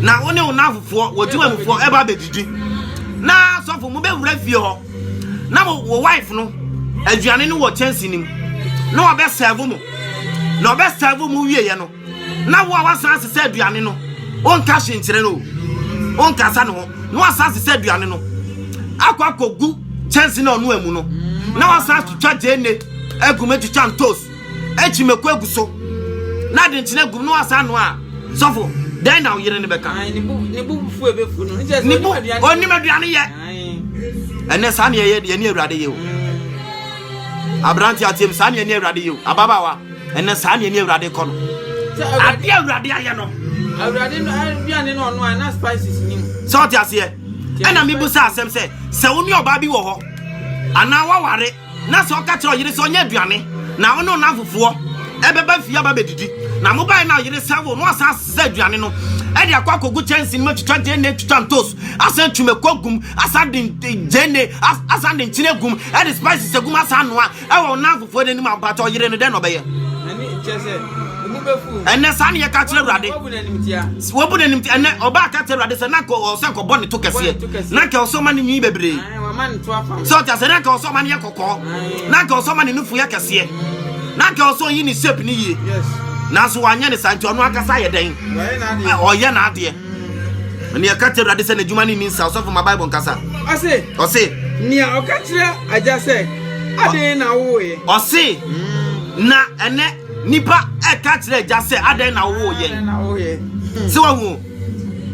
na wo ne wo nafofoɔ wɔdwuma mufoɔ ɛba bɛdidi na sɔfo mu bɛwura fie hɔ na wo wife no aduane no wɔ kyɛnse no mu na ɔbɛsɛvo mu na ɔbɛsɛvo mu wieɛ no na wo a woasan asesa aduane no wonka hye nkyerɛ no o wonkasa ne ho na woasan asesa aduane no akɔ akɔgu kyɛnse na ɔno amu no na woasan atwitwa gyeene agum atwitwa ntos akyi mako agu so na ade nkyene agum na woasan no a sɔfo dɛn na wo yere no bɛka ɔnim aduane yɛ ɛnɛ saa ne ɛyɛ deɛ ne awurade yɛ o aberante ateam saa ne ɛne awurade yɛ o ababaawa ɛnɛ saa nea ne awurade kɔ no adeɛ awurade ayɛ no awurade no aduane no ɔno a na spices ni mu sɛ ɔte aseɛ ɛna mebu sɛ asɛm sɛ sɛ wo ne ɔbaa bi wɔ hɔ anaa woaware na sɛ ɔka kyerɛ ɔyere sɛ ɔnyɛ aduane na wo ne ɔna afofoɔ ɛbɛba fie aba bɛdidi na mobaeɛ na ɔyere sɛ wo no asan sɛ aduane no ɛde akɔ akɔgu kyɛnse no mu atwitwa gyene atwitwa ntos asan twumako gum asan de gyene asan de nkyene gum ɛde spices agum asan noa Ɛwɔ nnamfofoɔ no anim a mpakyɛ ɔyere no dɛn na ɔbɛyɛ? Ɛnɛ saa ne yɛka kyerɛ Awurade. Wɔbu no animtia. Ɛnɛ ɔbaa ka kyerɛ Awurade sɛ na nkɔ sɛ nkɔbɔ ne to kɛseɛ. Na nkɛ ɔsɛ ɔma ne nwi bebree. Sɛ ɔte asɛ na nkɛ ɔsɛ ɔma ne yɛ kɔkɔɔ. Na nkɛ ɔsɛ ɔma ne nufu yɛ kɛseɛ. Na nkɛ ɔsɛ ɔyi ne shape ne yie. Nanso wanyɛ ne saa nti ɔno ankasa ayɛ dɛn? Ɔyɛ n'adeɛ. Ɛnna yɛka kyerɛ Awurade sɛ n'adwuma no nni nsa. Ɔsɔfo ma Bible nkasa. Ɔse. Ɔse. Nea ɔka kyerɛ agya sɛ, Adɛn na wowoeɛ? Ɔse. Hmm. Na ɛnɛ nipa ɛka kyerɛ agya sɛ, Adɛn na wowo yɛn? Hmm. Sɛ wahu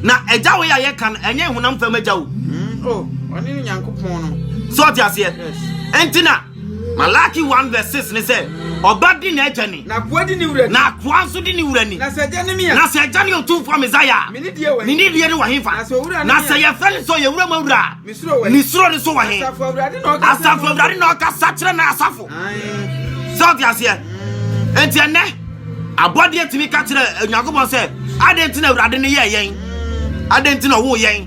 na agya wei a yɛka no ɛnyɛ honam fam agya o. Hmm. Oh, ɔne Nyankopɔn no. Sɛ ɔte aseɛ. Ɛnti na. Malaki one verse six ne sɛ, Ɔba di n'agya ni, na akoa di ne wura ni, na akoa nso di ne wura ni. Na sɛ agya ne me a, na sɛ agya ne Otumfoɔ Mesaia a, me ne deɛ wɔ he? Me ne deɛ ne wɔ he fa? Na sɛ owura ne me a, na sɛ yɛfrɛ ne sɛ ɔyɛ wura mu awura a, me suro wɔ he? Me suro no nso wɔ he? Asafo Awurade na ɔkasa. Asafo Awurade na ɔkasa kyerɛ n'asafo. Sɛ ɔte aseɛ. Enti ɛnɛ abɔdeɛ tumi ka kyerɛ Onyankopɔn sɛ, adɛn nti na Awurade ne yɛɛ yɛn? Adɛn nti na ɔwoo yɛn?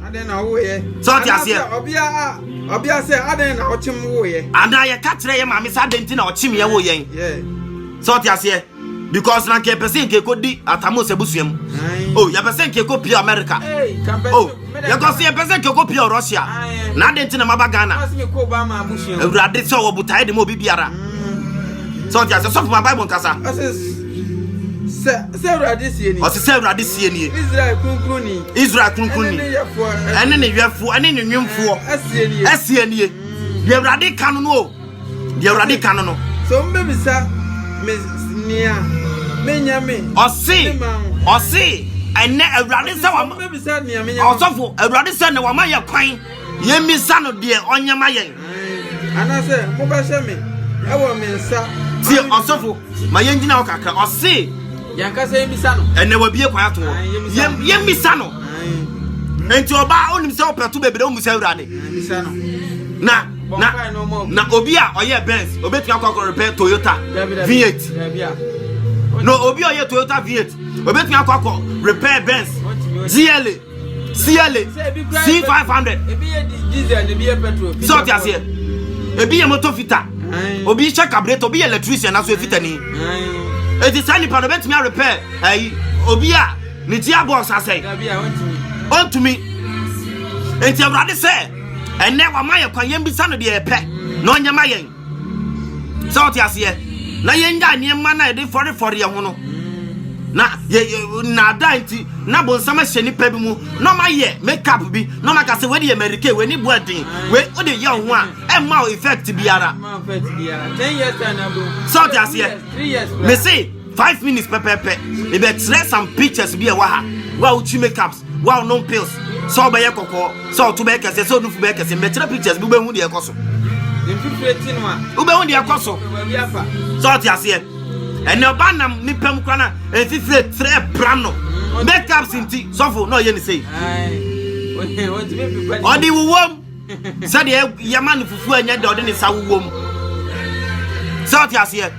Sɛ ɔte aseɛ. Ɔbea sɛ, Adɛn na ɔkyem woo yɛ? Anaa yɛka kyerɛ yɛ maame sɛ adɛn nti na ɔkyem yɛ woo yɛn? Sɛ ɔte aseɛ? Because na nka yɛpɛ sɛ nka ɛkɔdi atamos abusua mu. Oh, yɛpɛ sɛ nka ɛkɔ pia America. Oh, yɛkɔ sɛ yɛpɛ sɛ nka ɛkɔ pia Russia. Na adɛn nti na maba Ghana? Awurade sɛ ɔwɔ botaeɛ de ma obi biara. Mm. Sɛ ɔte aseɛ, sɔfo ma Bible nkasa. Sɛ sɛ Awurade sie nie. Ɔte sɛ Awurade sie nie. Israel kunkun ni. Israel kunkun ni. Ɛne ne yɛfoɔ ɛne ne nwemfoɔ. Ɛsie nie. Ɛsie nie. Deɛ Awurade ka no no o. Deɛ Awurade ka no no. So n bɛ bisa me nia me nya me. Ɔse ɔse ɛnɛ Awurade sɛ wɔn. Ɔsɔfo Awurade sɛ na wɔn ayɛ kwan. Yɛmmisa no deɛ ɔnyɛ ma yɛn. Anaasɛ mobɛhyɛ me ɛwɔ me nsa. Tie ɔsɔfo ma yɛn gyina hɔ kakra ɔse. Yɛnkasa yɛmmisa no. Ɛnɛ wabie kwan ato hɔ. Yɛmmisa no. Nti ɔbaa onim sɛ ɔpɛ to bebree omu sɛ awurade. Na na na obi a ɔyɛ Benz obetumi akɔ akɔ repɛ Toyota V8. No obi a ɔyɛ Toyota V8 obetumi akɔ akɔ repɛ Benz GLA. siɛle c five hundred sɛ ɔte aseɛ ebi yɛ moto fita obi hyɛ kabureto obi yɛ electrician na so efitani eti saa nipa no obetumi arepɛ ɛyi obi a ne ti abɔ nsasɛe ɔntumi nti awurade sɛ ɛnɛ wama yɛ kwan yɛn bisa no deɛ yɛpɛ na ɔnyɛ ma yɛn. sɛ ɔte aseɛ na yɛngyae nneɛma no a yɛde fɔrefɔre yɛn ho no na nnaadaa nti na bonsam ahyɛ nipa bi mu na ɔma yɛ makeup bi na ɔma ka sɛ wei de yɛ mary kay wei ne boa den wei o de yɛ ho a ɛmma o effect biara sɛ ɔte aseɛ me se five minutes pɛpɛpɛ mebɛkyerɛ some pictures bi ɛwɔ ha wo a wotwi makeups Wo a wonom pills sɛ wobɛyɛ kɔkɔɔ, sɛ ɔto bɛyɛ kɛse, sɛ onufu bɛyɛ kɛse, mmɛkyerɛ pictures bi wobɛhu deɛ ɛkɔ so. Wobɛhu deɛ ɛkɔ so. Sɛ ɔte aseɛ. Ɛnna ɔba nam nipa mu kora na mfifire trɛ pra no. Makeups nti sɔfo na ɔyɛ ne sei. Ɔde wowom. sɛdeɛ yɛma no fufuo a ɛnyɛ dɛ ɔde ne nsa wowɔ mu sɛ ɔte aseɛ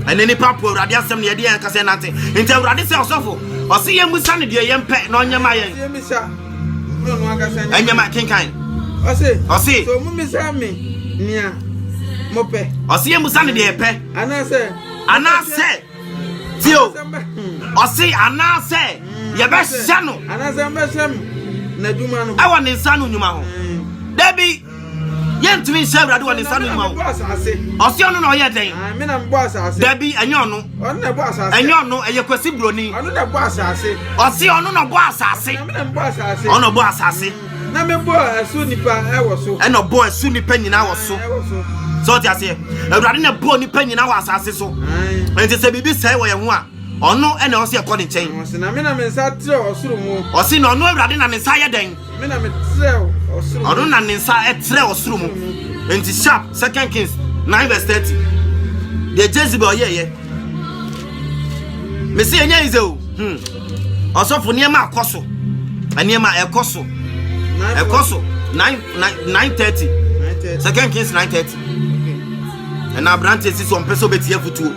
ɛne nipa po awurade asɛm ne yɛde yɛn kasa nante nti awurade sɛ ɔsɔfo ɔse yɛn mu sa ne deɛ yɛn pɛ na ɔnyɛ ma yɛn ɛnyɛ ma kenkan ɔse ɔse so mu misa me nea mopɛ ɔse yɛn mu sa ne deɛ yɛpɛ anaasɛ anaasɛ Ti o, ɔse anaasɛ yɛbɛhyɛ no ɛwɔ ne nsa no nnwuma ho. Dabi, yɛntumi nhyɛ Awurade wɔ ne nsa no nnwuma ho. Ɔse ɔno na ɔyɛ dɛn? Ah, Dabi, ɛnyɛ ɔno. Ɛnyɛ ɔno, ɛyɛ Kwasi Broni. Ɔse ɔno na ɔbɔ asase. Ɔno na ɔbɔ asase. Na mebɔɔ ɛso nipa wɔ so. ɛna ɔbɔɔ ɛso nipa nyinaa wɔ so sɛ ɔte aseɛ awurade na ɛbɔɔ nipa nyinaa wɔ asase so nti sɛ biribi sɛe wɔ yɛn ho a ɔno ɛna ɔsɛ ɛkɔ ne nkyɛn ɔse na me na me nsa trɛ ɔsoro mu ɔse na ɔno awurade na ne nsa yɛ dɛn me na me trɛ ɔsoro ɔno na ne nsa ɛtrɛ ɔsoro mu nti sharp second kings 9 verse 30 deɛ jezebel yɛyɛ mese ɛnyɛ yize o hmm. Ɔsɔfo, nneɛma akɔ so. Nneɛma ɛkɔ so. Ɛkɔ so. Nine nine nine thirty. Second Kings nine thirty. Ɛna aberante si so ɔmpɛ sɛ ɔbɛtie afutuo.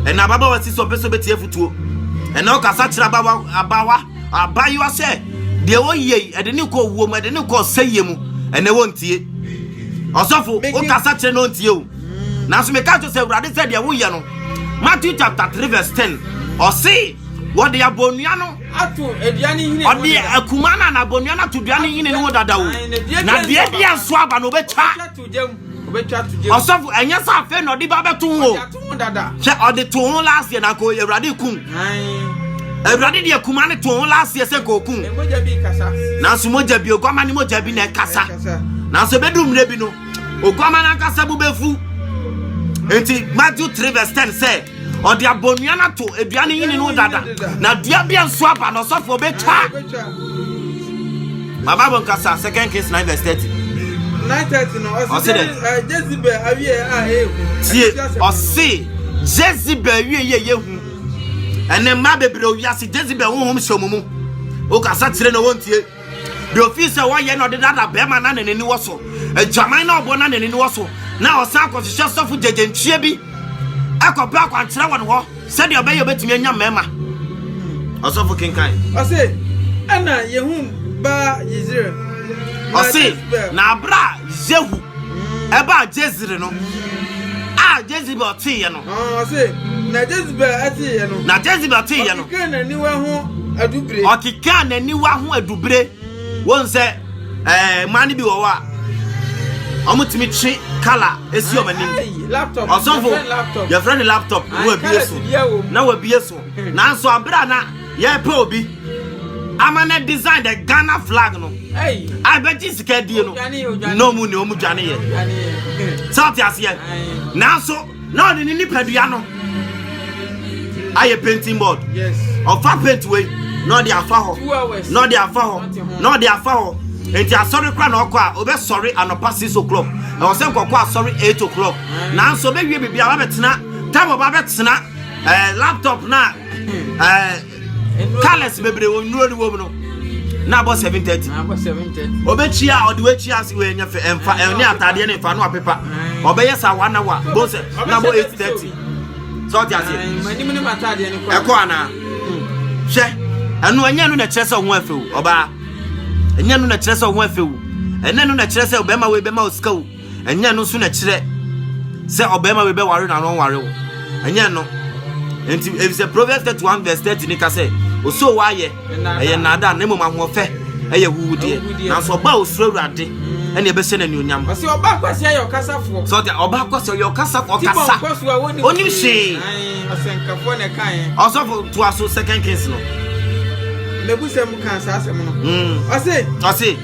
Ɛna ababawa si so ɔmpɛ sɛ ɔbɛtie afutuo. Ɛna ɔkasa kyerɛ abawa abawa abayewa sɛ deɛ ɔyɛ yi ɛde ne kɔ wuo mu ɛde ne kɔ ɔsɛyɛ mu ɛna wɔntie. Ɔsɔfo ɔkasa kyerɛ na ɔntie o. Nanso meka kyerɛ sɛ awurade sɛ deɛ woyɛ no Matthew chapter three verse ten ɔse. Wɔde abonnua no ato dua no nhini no ɔde akuma no na abonnua no ato dua no nhini no ho dada o na deɛ bi nso aba no ɔbɛtwa ɔsɔfo ɛnyɛ sɛ afei na ɔde ba bɛto ho sɛ ɔde to ho last year na nka awurade kum awurade deɛ akuma no to ho last year sɛ nka ɔkum nanso mogya bi oguama ne mogya bi na ɛkasa nanso ɛbɛdu mmerɛ bi no oguama no ankasa bu bɛfu nti matthew 3 verse 10 sɛ ɔde abonnua no ato dua no yini no dada na dua bi nso aba na ɔsɔfo ɔbɛtwa baba bɔ nkasa second case nine verse thirty. nine thirty na ɔsi dɛ eh, jezebel awie a ehu. tie ɔsi jezebel awie yɛ yɛ hu ɛnɛ mmaa bebree owi ase jezebel huhum hyɛ ɔmo mu okasa kyerɛ na wɔn tie. deɛ ɔfii sɛ wɔyɛ na ɔde dada bɛrima na n'ani wɔ so adwaman na ɔbɔ na n'ani wɔ so na ɔsan kɔhyehyɛ sɔfo gyegyenkyie bi ɛkɔpɛ akwankyerɛ wɔ ne hɔ sɛdeɛ ɔbɛyɛ ɔbɛtumi anya mmarima ɔsɔfo kenkan ɔse ɛna yehu baa yezire ɔse na abere a yehu ɛbaa jezire no a jezebel teeɛ no Ɔse, na Jezebel teeɛ no. Na Jezebel teeɛ no. Ɔkekaa n'aniwa ho adubire. Ɔkekaa n'aniwa ho adubire. Wɔn sɛ ɛɛ mmaa no bi wɔ hɔ a wɔtumi twe kala esi wɔn anim. Ɔsɔfo yɛfrɛ no laptop na wabie so na wabie so nanso abere a na. Yɛpɛ obi ama na design the Ghana flag no. I bet you sika die no. No mu ne omu dwane ye. South aseɛ. Nanso na ɔde ne nipadua no ayɛ painting board. Yes. Ɔfa paint wei na ɔde afa hɔ. Na ɔde afa hɔ. Na ɔde afa hɔ. Enti asɔre kora na ɔkɔ a obɛsɔre anɔpa 6 o'clock. Ɛwɔ sɛ nkɔkɔ asɔre 8 o'clock. Nanso obewie biribi a wabɛtena table ba bɛtena eh, laptop na colors bebree wɔ nnuro no wɔ no na abɔ seven thirty ɔbɛkyia a ɔde wakyia ase wɔ ɛnyɛ fɛ ɛnfa ɛne ataadeɛ ne nfa no apepa ɔbɛyɛ sa one hour bó sɛ na bɔ eight thirty sɛ ɔte aseɛ ɛkɔ anaa hwɛ ɛno ɛnyɛ no na ɛkyerɛ sɛ ɔho afɛ o ɔbaa ɛnyɛ no na ɛkyerɛ sɛ ɔho afɛ o ɛnyɛ no na ɛkyerɛ sɛ ɔbɛma wo ɛbɛma wo sika o. ɛnyɛ ɛno nso na ɛkyerɛ sɛ ɔbarima bi bɛware na no nware wo ɛnyɛ ɛno nti efisɛ proverbs thirty one verse thirty ne ka sɛ osoo wa ayɛ ɛyɛ nnaadaa na mmom ahoɔfɛ ɛyɛ huhudeɛ nanso ɔba a osuro awurade ɛna ɛbɛhyɛ no anuonyam ɔsɛ ɔba akwasi ayɛ ɔkasafoɔ sɛ ɔte ɔba akwasi ɔyɛ ɔkasafoɔ ɔkasa onim hwee ɔsɛnkafoɔ na ɛka yɛn ɔsɔfo to aso second kings no mebusɛm kan saa asɛm no hmm. ɔse ɔse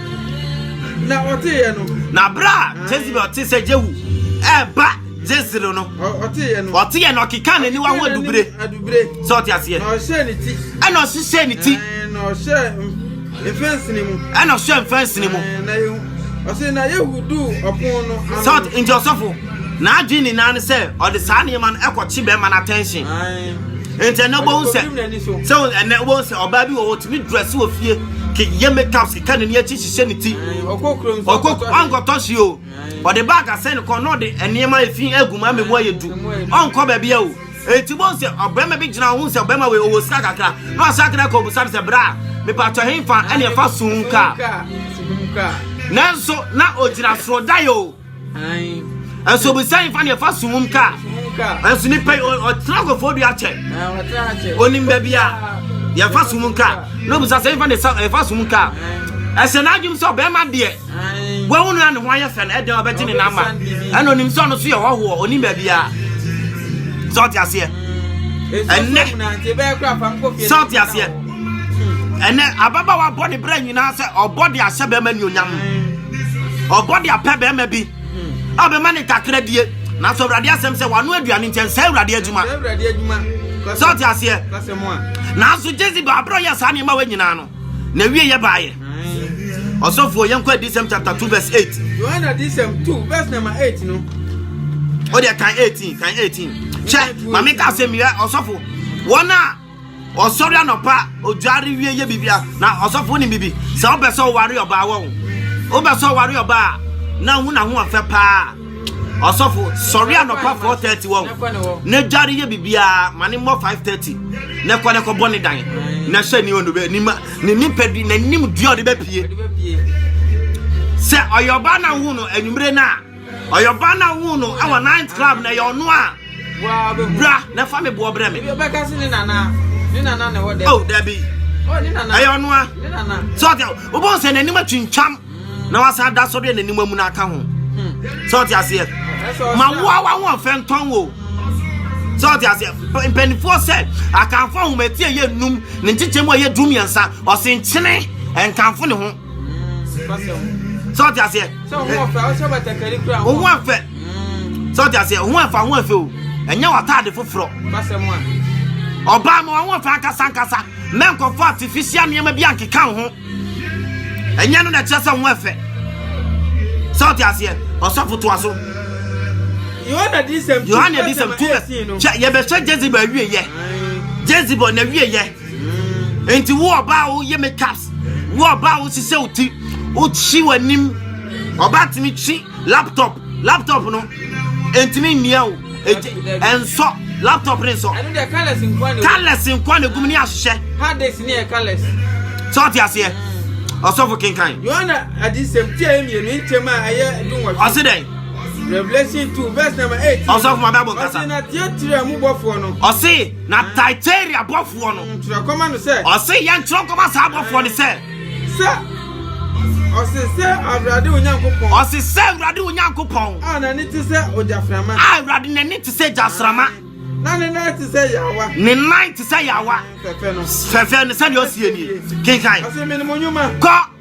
Na ɔteeɛ no. Na berɛ a Jezebel te sɛ Jehu ɛreba Jezreel no. Ɔteeɛ no. Ɔteeɛ no ɔkeka n'aniwa ho adubire. Adubire. Sɛ ɔte aseɛ. Na ɔhyɛ ne ti. Ɛna ɔhyehyɛ ne ti. Na ɔhyɛ mfɛnsini mu. Ɛna ɔhyɛ mfɛnsini mu. Na ɔsɛ na Yehu du ɔpon no ano. Sɛ nti ɔsɔfo. N'adwene nyinaa ne sɛ ɔde saa nneɛma no ɛkɔkye bɛrima no attention. Nti ɛnɛ wobɛhu sɛ sɛ ɛnɛ wobɛhu sɛ ɔbaa bi wɔ hɔ tumi drɛse wɔ fie keyɛ makeup keka n'ani akyi hyehyɛ ne ti ɔnkɔtɔ hye o ɔde bag asɛn ne kɔn na ɔde nneɛma efi agu mu ama mu ayɛ du ɔnkɔ baabi a o eti bɔn sɛ ɔbɛrima bi gyina ɔho sɛ ɔbɛrima wei ɔwɔ sika kakra na ɔsɛ akra kɔ obusa no sɛ bra mepatɔ henfa ɛne ɛfa sun kaa nanso na ogyina soro da yɛ o. nso bisa yi fa ne ɛfa so wom ka nso nipa yi ɔtena akɔfo dua kyɛ onim baabi a yɛfa so wom ka na obisa sɛ nfa ne ɛfa so wom ka ɛhyɛ n'adwom sɛ ɔbɛrima deɛ wɔn nua ne ho ayɛ fɛ no ɛdɛn ɔbɛgye ne namba ɛna onim sɛ ɔno so yɛ hɔhoɔ onim baabi a sɛ ɔte aseɛ ɛnɛ sɛ ɔte aseɛ ɛnɛ ababaawa bɔ ne berɛ nyinaa sɛ ɔbɔ de ahyɛ bɛrima nuonyam ɔbɔ de apɛ bɛrima bi a ɔbɛma ne ntakra die nanso awurade asɛm sɛ wano aduane nkyɛn sɛ awurade adwuma sɛ ɔte aseɛ nanso jezebel aberɛ ɔyɛ saa nneɛma wɔ nyinaa no na wie yɛ baayɛ ɔsɔfoɔ yɛnkɔ adisɛm chapter 2 verse 8 yohane adisɛm 2 verse number 8 no wode kan 18 kan 18 hyɛ ma meka asɛm yɛ ɔsɔfo wɔn a Ɔsɔre anɔpa, odware wie yɛ bibia. Na ɔsɔfo wonim bibi. Sɛ wopɛ sɛ ɔware ɔbaa wɔ wo. Wopɛ sɛ ɔware ɔbaa na hu na ho ɔfɛ paa. Ɔsɔfo sɔre anɔpa 4:30 wɔ wo. Na dware yɛ bibia ma ne mmɔ 5:30. Na kɔ ne kɔbɔ ne dan. Na hyɛ ne ɔno bɛ nima ne nipadua na nim dua ɔde bɛpie. Sɛ ɔyɛ ɔbaa na hu no anwumere na Ɔyɛ ɔbaa no a woo no wɔ night club na ɛyɛ ɔno a. Bra na fa me boɔ brɛ me. Oh dabi. Ɛyɛ ɔno a. Sɛ ɔte wobɛhu sɛ n'anim atwintwam na wasa ada so deɛ n'anim amu no aka ho. Sɛ ɔte aseɛ. Ma woa wa ho ɔfɛ ntɔn wo. Sɛ ɔte aseɛ. Mpanimfoɔ sɛ akanfo ahomatie yɛ num ne nkyekyɛm a yɛ du mmiɛnsa ɔsenkyene nkanfo ne ho. sɛ ɔte aseɛ wo ho afɛ sɛ ɔte aseɛ wo ho afa ho afɛ o ɛnyɛ w'ataade foforɔ ɔbaa ma wɔn afɛ ankasa ankasa mɛ nkɔfo artificial nneɛma bi ankeka wo ho ɛnyɛ no na ɛkyerɛ sɛ ho afɛ sɛ ɔte aseɛ ɔsɔfo toa so yohane adisɛm tu bɛ yɛbɛhyɛ jezebel awieyɛ jezebel na awieyɛ Enti wo ɔbaa wo yɛ makeups, wo ɔbaa wo sisɛ wo ti, wo kyi w'anim. Ɔbaa ntumi kyi laptop, laptop no ntumi mmia wo, ɛnsɔ laptop ne nsɔ. Ɛno deɛ colours nkwa na colours nkwa na egum ne ahyehyɛ. Hard disk ne yɛ colours. Sɛ ɔte aseɛ, mm. ɔsɔfo kenkan. Yohana adisɛm ti a emienu ntɛm a ɛyɛ dunwɔtwe. Ɔsi dɛ. Revelation two verse number eight. Ɔsɔfo ma bɛ abɔ nkasa. Ɔsi na tiatira mu bɔfoɔ no. Ɔsi. Na Thyatira bɔfoɔ no. Ntwerɛ kɔma no sɛ. Ɔse yɛ ntwerɛ kɔma saa bɔfoɔ no sɛ. Sɛ ɔse sɛ Awurade Onyankopɔn. Ɔse sɛ Awurade Onyankopɔn. A n'ani te sɛ ogyaframa. A Awurade n'ani te sɛ gyasrama. Na ne nan te sɛ yawa. Ne nan te sɛ yawa. Fɛfɛ no. Fɛfɛ no sɛdeɛ ɔsie nie. Kenkan. Ɔse menim onyuma. Kɔ.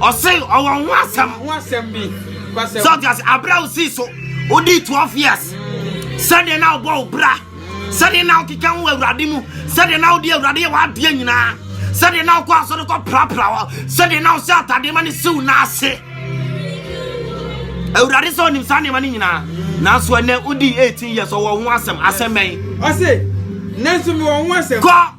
ɔse ɔwɔ ho asɛm ho asɛm bi kwasɛm sɛ ɔte ase aberɛ a wosii so wodii 12 years sɛdeɛ na wobɔ wo bra sɛdeɛ na wokeka ho awurade mu sɛdeɛ na wode awurade yɛ w'adeɛ nyinaa sɛdeɛ na wokɔ asɔre kɔ prapra hɔ sɛdeɛ na wosɛ atadeɛ ma no siw no ase awurade sɛ ɔnim saa nneɛma no nyinaa nanso ɛnɛ wodii 18 years ɔwɔ ho asɛm asɛm bɛn ɔse nanso mewɔ ho asɛm kɔ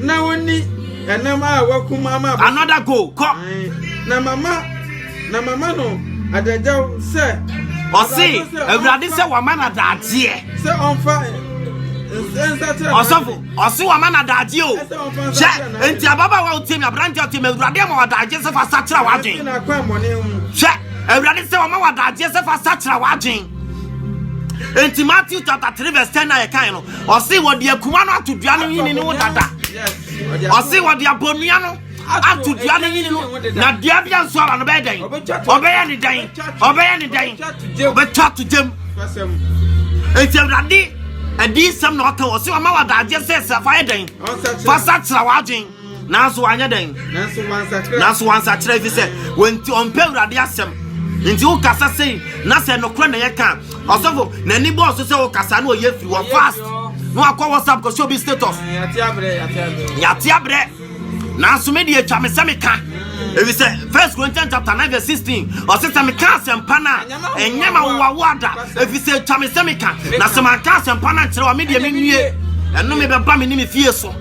Na wonni ɛnam a wɔakum ama abɔfo. Another go, kɔ. Na mama na mama no adagyaw sɛ. Ɔse awurade sɛ wama no adagyeɛ. Sɛ ɔmfa ɔsɔfo ɔse wama no adagyeɛ o hwɛ nti ababaawa wotie me aberante ɔte ma awurade ama wadagyeɛ sɛ fa sakyera w'adwen hwɛ awurade sɛ wama wadagyeɛ sɛ fa sakyera w'adwen nti matthew chapter three verse ten na yɛkae no ɔse wɔde akuma no ato dua no nyini no ho dada ɔse wɔde abɔnua no ato dua no nyini no na dua bi anso ara no bɛyɛ dɛn ɔbɛyɛ ne dɛn ɔbɛyɛ ne dɛn ɔbɛtwa ato gyam enti awurade adiyisɛm na ɔka ɔse ɔma wɔ adagye sɛ sɛ fa yɛ dɛn fa sa kyerɛ w'adwen Nanso wanyɛ dɛn? Nanso wansakyera. Nanso wansakyera efisɛ wɔnti ɔmpɛ Awurade asɛm. Nti wokasa sei na sɛ nokorɛ na yɛka ɔsɔfo n'ani bɔɔ so sɛ wokasa na ɔyɛ firi wɔ fast na wakɔ WhatsApp kɔhyɛ obi status. Yɛate abrɛ. Nanso me deɛ atwa me sɛ meka efisɛ First Corinthians chapter nine verse sixteen ɔsɛ sɛ meka asɛmpa no a ɛnyɛ ma wowawoa da efisɛ atwa me sɛ meka na sɛ manka asɛmpa no ankyerɛ wa me deɛ menwie ɛno mebɛba me ne me fie so.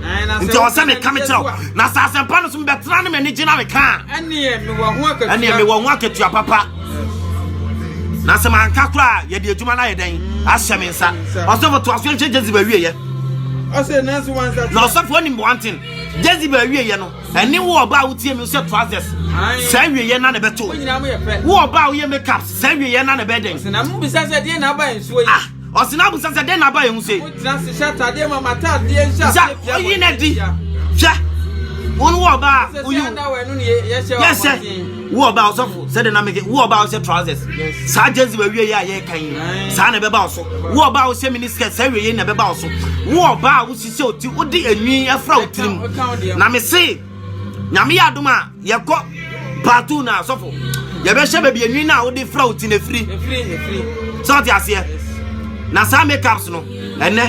nti ɔwɔ sɛ meka me kyerɛ wo na sɛ asɛmpa no so mebɛtena ne m'ani gyina meka a ɛneɛ mewɔ ho akatua papa na sɛ manka koraa yɛde adwuma no ayɛ dɛn ahyɛ me nsa ɔsɔfo to aso nhwɛ jezebel awieyɛ na ɔsɔfo onim one thing jezebel awieyɛ no ɛne wo ɔba a wotie mi sɛ trousers saa awieyɛ na na ɛbɛto wo ɔba a woyɛ makeup saa awieyɛ na na ɛbɛdɛn Ɔsena abusa sɛ dɛn na aba yɛn ho sei. Wontena ase hyɛ atadeɛ ma m'atadeɛ nhyɛ aseɛ pia wɔ oyi na di hwɛ wɔn wɔ ɔbaa oyi yɛhyɛ wɔ ɔbaa ɔsɔfo sɛdeɛ na meke wɔ ɔbaa ɔhyɛ trousers saa gyezi wɔ awie yɛ a yɛka yi saa na ɛbɛba ɔso wɔ ɔbaa ɔhyɛ mini skirt saa awie yɛ na ɛbɛba ɔso wɔ ɔbaa ɔsisɛ oti wode enwi afra otirim na mese nyame yɛ adom a yɛkɔ paatu na asɔfo yɛbɛhyɛ baabi enwi na wode fira wo ti na efiri sɛ ɔte aseɛ na saa makeups no ɛnɛ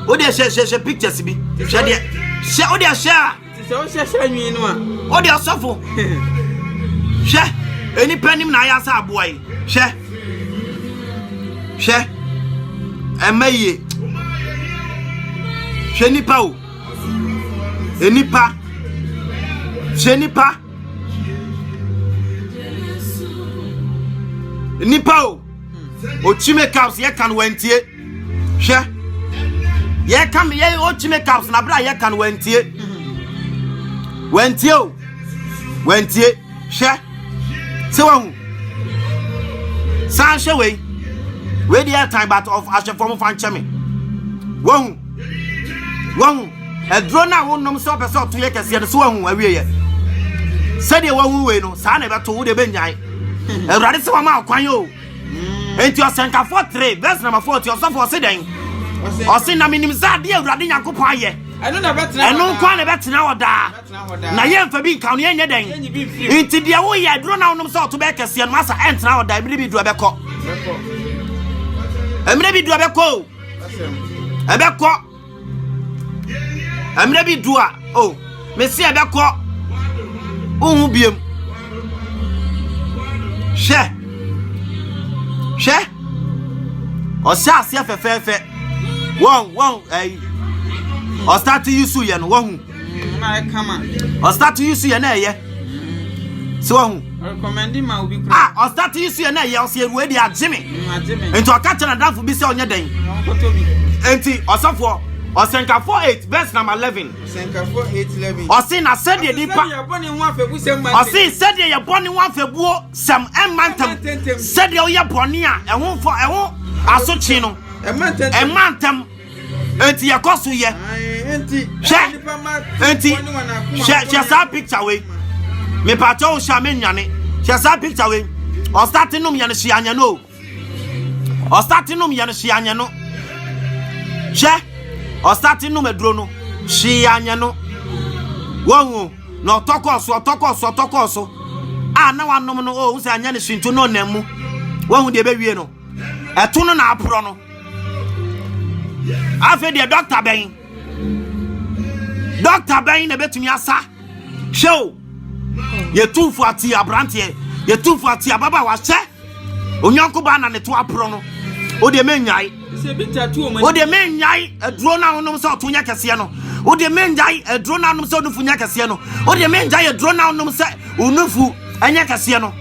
wode hyɛ hyɛ hyɛ pictures bi hyɛ deɛ hyɛ wode hyɛ a sɛ wohyɛ hyɛ nwi no a wode ɔsɔfo hyɛ enipa nim na ayɛ asɛ aboa yi hyɛ hyɛ ɛmɛ yie hyɛ nipa o. Nnipa, hyɛ nnipa. Nnipa o, Ochi makeups yɛ kan wantie. Hwɛ, yɛ kan yɛ Ochi makeups na abira yɛ kan wantie. Wantie o, wantie. hwɛ sɛ wahu san hwɛ wei wei deɛ ɛtan but of ahwɛfoɔ mo fa nkyɛ me wahu wahu aduro no a wonom sɛ ɔpɛ sɛ ɔto yɛ kɛseɛ no so wahu awieɛ sɛdeɛ wahu wei no saa na ɛbɛto wo deɛ bɛnyae awurade sɛ wama ɔkwan o enti ɔsɛnkafoɔ tere bɛs namafoɔ ti ɔsɔfoɔ se dɛn ɔse na menim sɛ adeɛ awurade nyankopɔn ayɛ ɛno nkwa na ɛbɛtena hɔ daa na yɛmfa bi nka no yɛnyɛ dɛn nti deɛ woyɛ aduro na wonom sɛ ɔto bɛyɛ kɛseɛ no asa ɛntena hɔ da mmerɛ bi duro bɛkɔ mmerɛ bi duro bɛkɔ o ɛbɛkɔ mmerɛ bi duro a o mese ɛbɛkɔ wohu biam hwɛ hwɛ ɔhyɛ aseɛ fɛfɛɛfɛ wɔn wɔn ɛyi ɔsate yi so yɛ no wɔhu Mm, na ɛka ma. Ɔstart yi so yɛ na ɛyɛ. Sɛ wahu. Ɔrekɔmɛndi ma obi kura. Ah, ɔstart yi so yɛ na ɛyɛ ɔsɛ eruwe de agye me. Mm, agye me. Nti ɔka kyerɛ n'adanfo bi sɛ ɔnyɛ dɛn. Ɔnkɔtɔ bi. Nti ɔsɔfoɔ. Ɔsɛnkafo eight verse number eleven. Ɔsɛnkafo eight eleven. Ɔsi na sɛdeɛ nipa. Ɔsi sɛdeɛ yɛbɔ ne ho afɛbu sɛm ma ntɛntɛm. Ɔsi sɛdeɛ yɛbɔ ne ho afɛbuo sɛm ɛma ntɛm. Sɛdeɛ ɔyɛ bɔnne a ɛho fɔ ɛho asotwe no. Ɛma ntɛntɛm. Ɛma ntɛm. Enti yɛkɔ so yɛ. Hwɛ, enti hwɛ hwɛ saa picture wei. Mepatwa wo hyɛ a menwane. Hwɛ saa picture wei. Ɔsate nom yɛ no hyɛ anyɛ no o. Ɔsate nom yɛ no hyɛ anyɛ no. Hwɛ, ɔsate nom aduro no hyɛ anyɛ no. Wɔhu na ɔtɔ kɔɔ so ɔtɔ kɔɔ so ɔtɔ kɔɔ so a na wanom no o sɛ anyɛ no hyɛ ntu no ɔnam mu. Wɔhu deɛ ɛbɛwie no. Ɛto no na aporɔ no. afei deɛ dɔkta bɛn dɔkta bɛn na ɛbɛtumi asa hwɛ o yɛtumfo ate aberanteɛ yɛtumfo ate ababa wahyɛ onyanko baa na ne to aporɔ no o deɛ mennyae o deɛ mennyae aduro no a wonom sɛ ɔto nyɛ kɛseɛ no o deɛ mennyae aduro no a wonom sɛ onufu nyɛ kɛseɛ no o deɛ mennyae aduro no a wonom sɛ onufu nyɛ kɛseɛ no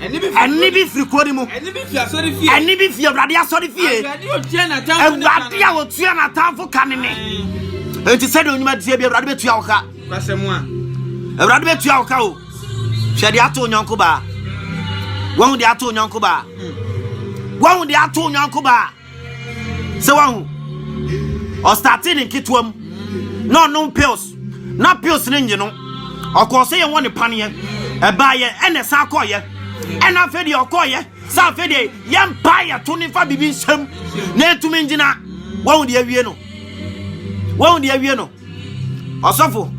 Ɛne bi firi kuro no mu. Ɛne bi firi asɔre fie. Ɛne bi firi awurade asɔre fie. Awurade a otua n'atamfo ka ne ne. Nti sɛ de onyuma tie bi awurade betua wo ka. Awurade betua wo ka o. Hwɛ de ato onyanko baa. Wɔn de ato onyanko baa. Wɔn de ato onyanko baa. sɛ wahu ɔstate ne nketewa mu na ɔnom pills na pills no nye no ɔkɔɔ sɛ yɛwɔ ne paneɛ ɛbaayɛ ɛna ɛsan kɔɔyɛ ɛna afei deɛ ɔkɔɔyɛ sɛ afei deɛ yɛmpa yɛto ne fa biribi nsɛm na ɛtumi ngyina wahu deɛ awie no wahu deɛ awie no ɔsɔfo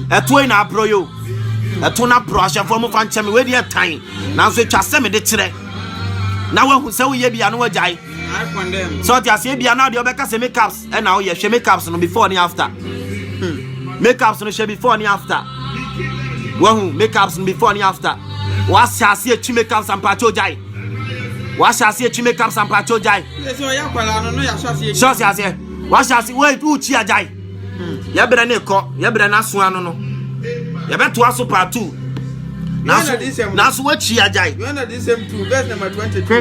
ɛtoɔ yi na aporɔ yɛ o ɛto no aporɔ ahyɛfoɔ mu fa nkyɛ me wadi ɛtan nanso ɛtwa sɛ mede kyerɛ na wahu sɛ woyɛ bia no wagyae sɛ ɔte aseɛ bia na deɛ ɔbɛka sɛ makeups ɛna woyɛ hwɛ makeups no before ne after hmm. makeups no hwɛ before ne after wahu makeups no before ne after wahyɛ aseɛ atwi makeups ampakyɛ ogyae wahyɛ aseɛ atwi makeups ampakyɛ ogyae sɛ ɔte aseɛ wahyɛ aseɛ woakyi agyae yɛbrɛ ne kɔ yɛbrɛ n'aso ano no yɛbɛtoa so part two nanso nanso wakyi agyae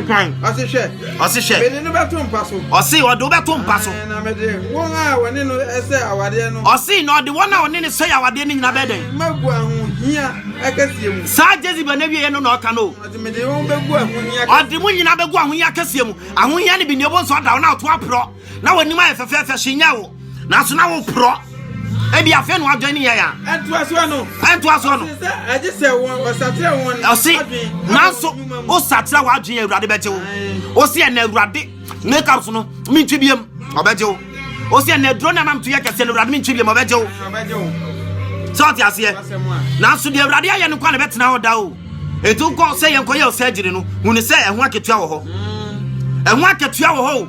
kwan ɔse hwɛ ɔse hwɛ mede no bɛto mpa so ɔse ɔde wobɛto mpa so na mede wɔn a wɔne no sɛ awadeɛ no ɔse na ɔde wɔn a wɔne no sɛ awadeɛ no nyina bɛɛ dɛn magu ahohia akɛseɛ mu saa jezebel no awieɛ no na ɔka no ɔde mede wɔn bɛgu ahohia ɔde mo nyina bɛgu ahohia akɛseɛ mu ahohia no bi nneɛbɔ nso ɔda wo na ɔto aporɔ na w'anim ayɛ fɛfɛɛfɛ hye nyɛ wo nanso na woporɔ ebi afei na wadwan ne yɛn a ɛntoasoɔ no ɛntoasoɔ no ɛgye sɛ wɔn ɔsakyerɛ wɔn ɔse nanso wosakyerɛ w'adwene awurade bɛgye wo ɔse ɛna awurade makeup so no mentwi biam ɔbɛgye wo ɔse ɛna aduro no anam to yɛ kɛseɛ no awurade mentwi biam ɔbɛgye wo sɛ ɔte aseɛ nanso deɛ awurade ayɛ no kɔ na ɛbɛtena hɔ da o ɛtu kɔ sɛ yɛnkɔyɛ ɔsɛ agyiri no hunu sɛ ɛho akatua wɔ hɔ ɛho akatua wɔ hɔ o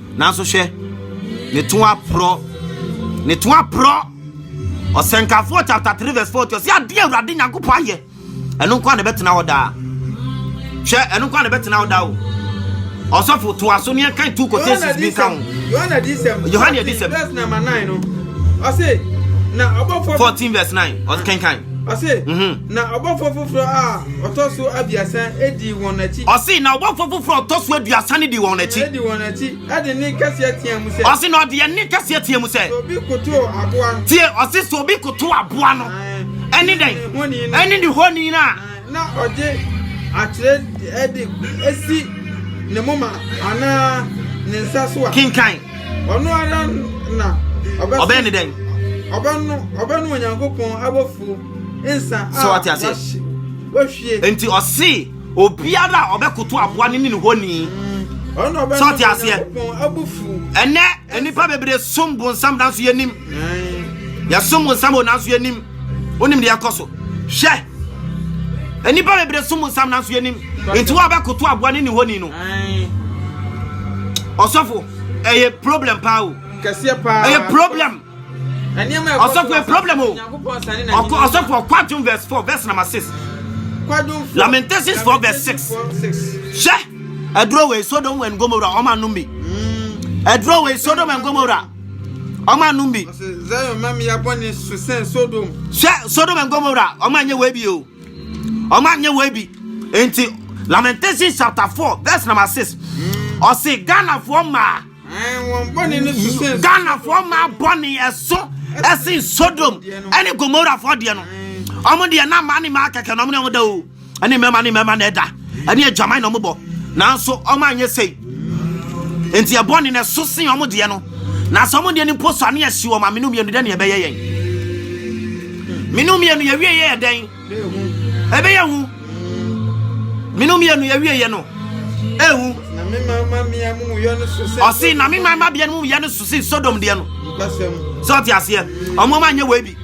Nanso hwɛ, ne to aporɔ, ne to aporɔ. Ɔsɛnkafoɔ chapter 3 verse 40 ɔsɛ adeɛ Awurade Nyankopɔn ayɛ, ɛno nko a na ɛbɛtena hɔ daa. Hwɛ, ɛno nko a na ɛbɛtena hɔ daa o. Ɔsɔfo to aso ne ɛkan two quotations bi nka ho. Yohane Adisɛm. Yohane Adisɛm. Verse number 9 no. Ɔse, na ɔbɔfoɔ. 14 verse 9. Ɔkenkan. Ɔse, mhm. na ɔbɔfoɔ foforɔ a ɔtɔ so aduasa di wɔn akyi. Ɔse, na ɔbɔfoɔ foforɔ a ɔtɔ so aduasa no di wɔn akyi. Di wɔn akyi, ɛde ne kɛseɛ teɛ mu sɛ. Ɔse, na ɔde ɛne kɛseɛ teɛ mu sɛ. Obi koto aboa no. Tie, ɔse, sɛ obi koto aboa no. Ɛne dɛn? Ɛne ne honi no a. Na ɔde akyerɛ ɛde esi ne moma anaa ne nsa so a. Kenkan. Ɔno ara na ɔbɛsen. Ɔbɛyɛ ne dɛn? Ɔbɛno ɔbɛno Onyankopɔn abɔfuo nsa a wahye wahwie. Nti ɔse obiara a ɔbɛkoto aboa no ne ne honi. Ɔno ɔbɛno Onyankopɔn abufuo. Ɛnɛ nnipa bebree som bonsam nanso yɛnim. Yɛsom wo nsam o, nanso yɛnim. Wonim deɛ ɛkɔ so. Hwɛ! Nnipa bebree som wo nsam, nanso yɛnim. Nti wo a wobɛkoto aboa ne ne honi no. Ɔsɔfo, ɛyɛ problem paa o. Kɛseɛ paa. Ɛyɛ problem. Ɔsɔfo, ɛyɛ problem o. Ɔsɔfo, ɔkwadwom verse four, verse number six. Lamentations four, verse six. Hwɛ! Ɛduro wei Sodom and Gomorrah, ɔma nom bi. Ɛduro wei Sodom and Gomorrah. ɔmo anom bi. Zion ma mmea bɔne so sɛn Sodom. Hwɛ Sodom and Gomorrah, ɔmo anyɛ wei bi o, ɔmo anyɛ wei bi. Nti Lamentations chapter four verse number six, mm. ɔsi Ghanafoɔ maa. Ghanafoɔ maa bɔne ɛso ɛsen Sodom ɛne Gomorrahfoɔ deɛ no, ɔmo deɛ na maa ne maa kɛkɛ na ɔmo ne ɔmo da o. ɛne mmarima ne mmarima na ɛda ɛne adwaman na wɔbɔ nanso wɔn anyɛ sei nti ɛbɔ ne na ɛso sen wɔn deɛ no na sɛ wɔn deɛ no mpo so ano yɛsi wɔn amenu mmienu dɛ ne ɛbɛyɛ yɛn menu mmienu yɛwie yɛ yɛ dɛn ɛbɛyɛ hu menu mmienu yɛwie yɛ no ehu ɔsi na mi maa ma bia no mu yɛ no so si sodom deɛ no sɛ ɔte aseɛ ɔmo ma nyɛ wɔ ebi.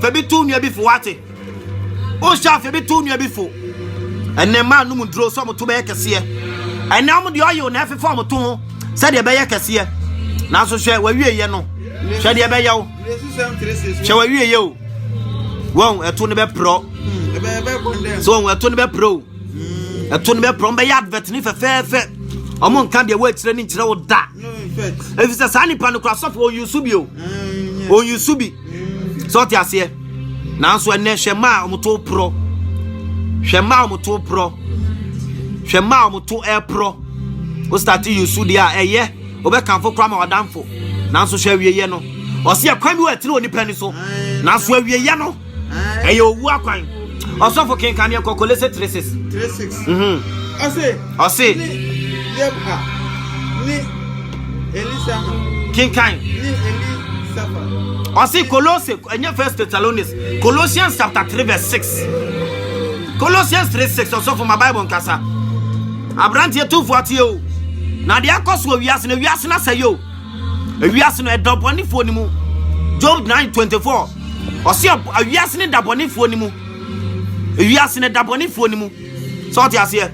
Fa bi to nua bi fo wate. Wohyɛ afa bi to nua bi fo. Ɛnɛ mmaa nom nnuro sɛ wɔto bɛyɛ kɛseɛ. Ɛnɛ wɔn deɛ ɔyew na ɛfefa wɔn to ho sɛdeɛ ɛbɛyɛ kɛseɛ. Nanso hwɛ wawieyɛ no. Hwɛ deɛ ɛbɛyɛ wo. Hwɛ wawieyɛ o. Wɔn ɛto no bɛporɔ. So wɔn ɛto no bɛporɔ o. Ɛto no bɛporɔ. Wɔn bɛyɛ advert ne fɛfɛɛfɛ. Wɔn nka deɛ wɔakyerɛ ne nkyerɛ wo da. Efisɛ saa nipa no kora sɔfo ɔnyusu bi o. Ɔnyusu bi. sɛ ɔte aseɛ nanso ɛnɛ hwɛ mma a wɔto porɔ hwɛ mma a wɔto porɔ hwɛ mma a wɔto ɛporɔ wostate yusu deɛ a ɛyɛ wobɛkamfo koraa ma wadanfo nanso hwɛ awieyɛ no ɔse ɛkwan bi wɔ ɛtene onipa ni so nanso awieyɛ no ɛyɛ owu akwan ɔsɔfo kenkaneɛ kɔkɔle se 36 ɔse kenkan ɔse kolose ɛnyɛ first thessalonians colossians chapter 3 verse 6 colossians 3 6 ɔsɔfo ma bible nkasa aberanteɛ tumfo ateɛ o na deɛ akɔ so wɔ wiase no wiase no asɛyɛ o wiase no ɛda bɔnefoɔ no mu job 9 24 ɔse wiase no da bɔnefoɔ no mu wiase no da bɔnefoɔ no mu sɛ ɔte aseɛ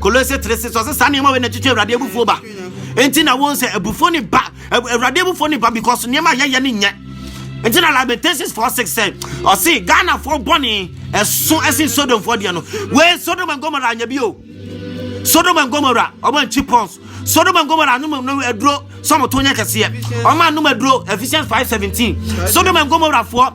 Kolose 3 6 ɔsɛ saa nneɛma wei na ɛtwitwe awurade abufuo ba nti na wɔn sɛ abufuo ne ba awurade abufuo ne ba because nneɛma yɛyɛ ne nyɛ nti na lamentations 4 6 sɛ ɔse ghanafoɔ bɔne ɛso ɛsen sodomfoɔ deɛ no wei sodom and gomora anyɛ bio sodom and gomora ɔma nkyi pons sodom and gomora anom no aduro sɛ ɔmoto nyɛ kɛseɛ ɔma anom aduro ephesians 5 17 sodom and gomorafoɔ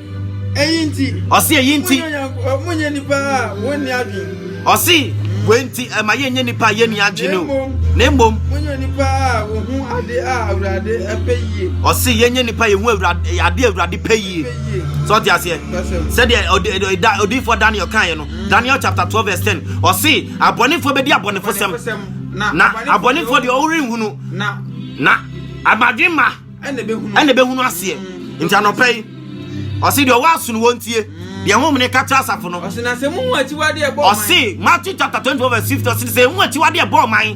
Eyi nti. Ɔsi eyi nti. Mo nyɛ nipa a wɔn ni adwene. Ɔsi wei nti ɛma yɛn nyɛ nipa a yɛn ni adwene o. Na emom. Mo nyɛ nipa a wɔhu ade a awurade ɛpɛ yie. Ɔsi yɛn nyɛ nipa a yɛhu awurade ade awurade pɛ yie. Sɛ ɔte aseɛ. Sɛdeɛ odiifoɔ Daniel kan yɛ no. Mm. Daniel chapter twelve verse ten. Ɔsi abɔnefoɔ bɛdi abɔnefo sɛm. Na abɔnefoɔ deɛ ɔrenhunu. Na amadwe ma. ɛna ɛbɛhunu aseɛ nti anɔpɛ yi ɔse deɛ ɔwɔ aso no wɔntie deɛ ho mene ka kyerɛ asafo no ɔse matthew chapter 24 verse 50 ɔse sɛ ɛhu akyiwadeɛ bɔɔ man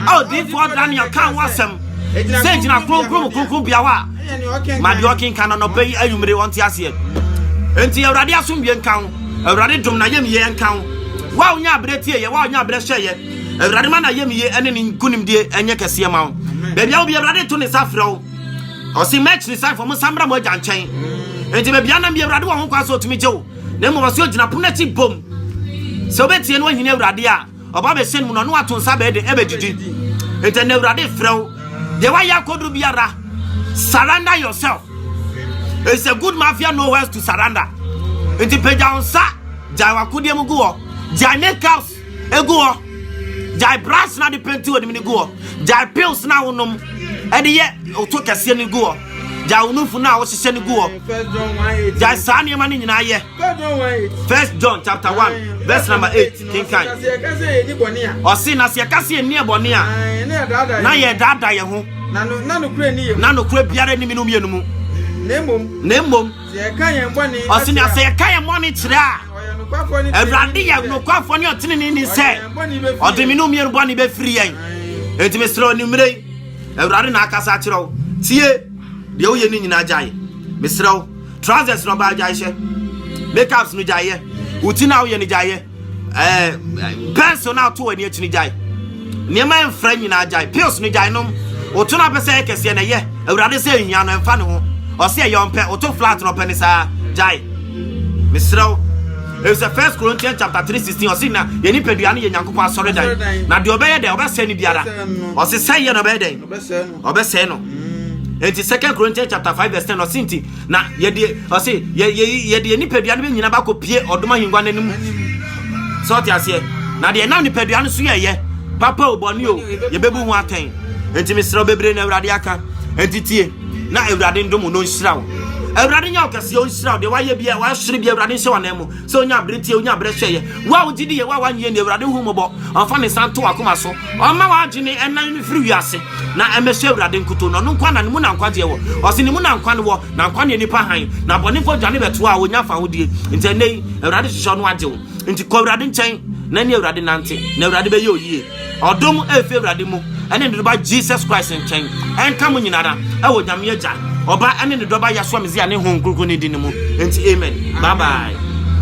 a ɔdifoɔ daniel ka ho asɛm sɛ gyina kronkron mu kronkron bia hɔ a ma deɛ ɔkenka no anɔpɛ yi anwummere ɔnte aseɛ enti awurade asomdwe nka ho awurade dom na yɛmyɛ nka ho wa wonya aberɛ tie yɛ wa wonya aberɛ hyɛ yɛ awurade ma na yɛ meye ɛne ne nkonimdie ɛnyɛ kɛseɛ ma wo baabi a wobi awurade to ne nsa frɛ wo ɔse match ne sanfo mo nsa mmra mo agya nkyɛn enti baabi anam bi awurade wɔ ho kwa sɛ ɔtumi gye wo na mmom ɔse ɔgyina pono akyi bom sɛ wobɛtie no ahini awurade a ɔba bɛhyɛ no mu no ɔno ato nsa bɛɛ de ɛbɛgyigyi enti ɛnɛ awurade frɛ wo deɛ woayɛ akɔduru biara surrender yourself it's a good mafia nowhere to surrender enti pagya wo nsa gyae wakodeɛ mu gu hɔ gyae make house egu hɔ gyae brush na de penti wɔ nim no gu hɔ gyae pills na wonom ɛde yɛ ɔtɔ kɛseɛ no gu hɔ gyae wo nufu no a wohyehyɛ no gu hɔ gyae saa nneɛma no nyinaa yɛ first john chapter 1 verse number 8 kenkan ɔse na sɛ yɛka sɛ yɛnni ɛbɔne a na yɛdaada yɛ ho na nokorɛ biara nimi no mmienu mu na mmom ɔse na sɛ yɛka yɛn bɔne kyerɛ a awurade yɛ nokwafoɔ ne ɔteneneni sɛ ɔde me no mmienu bɔne bɛfiri yɛn enti mesrɛ ɔnimmerɛ yi awurade na akasa akyerɛ wo tie deɛ woyɛ no nyinaa gyae mesrɛ wo trousers no ɔbaa gyaehyɛ makeups no gyaeɛ wo ti no a woyɛ no gyaeɛ ɛɛ pɛns no ato w'ani akyi no gyae nneɛma mfra nyinaa gyae pills no gyae nom woto no apɛ sɛ ɛyɛ kɛseɛ na ɛyɛ awurade sɛ nhia no ɛmfa ne ho ɔsɛ ɛyɛ ɔmpɛ woto flat no ɔpɛ ne saa gyae mesrɛ wo ɛsɛ first corinthians chapter 3 16 ɔse na yɛ nipadua no yɛ nyankopɔn asɔre dan na deɛ ɔbɛyɛ dɛn ɔbɛsɛe no biara ɔse sɛeɛ na ɔbɛyɛ dɛn ɔbɛsɛe no nti second corinthians chapter 5 verse 10 ɔse nti Na yɛde ɔse yɛ yɛ yɛde yɛn nipadua no bɛnyina bakɔ pie ɔdom ahengua no anim sɛ ɔte aseɛ na deɛ nam nipadua no so yɛyɛ papa o bɔne o yɛbɛbu ho atɛn nti mesrɛ bebree na awurade aka nti tie na awurade ndom no nhyira wo awurade nyɛ ɔkɛseɛ ɔnhyira wo deɛ wayɛ bia wasere bia awurade nhyɛ wanan mu sɛ onya abere tie onya abere hwɛ yɛ wo a wogye di yɛ wo a wanyɛ ni awurade hu mmɔbɔ ɔmfa ne nsa nto wakoma so ɔma w'adwene ɛnan no firi wiase na ɛmɛhyɛ awurade nkoto na ɔno nkwa na ne mu na nkwagyeɛ wɔ ɔse ne mu na nkwa no wɔ na nkwa ne nipa han na bɔnefo dwane bɛtoa a wɔnya fa hodie nti ɛnɛ yi awurade hyehyɛ ɔno agye wo nti kɔ awurade nkyɛn na ne awurade nante na awurade bɛyɛ oyie Ɔdom a efi Awurade mu ne ne Dɔba Jesus Christ nkyɛn nka mo nyinara wɔ Nyame Agya, Ɔba ne ne Dɔba Yasua Mesia ne Honhom Kronkron ne din mu. Enti, amen. Bye bye.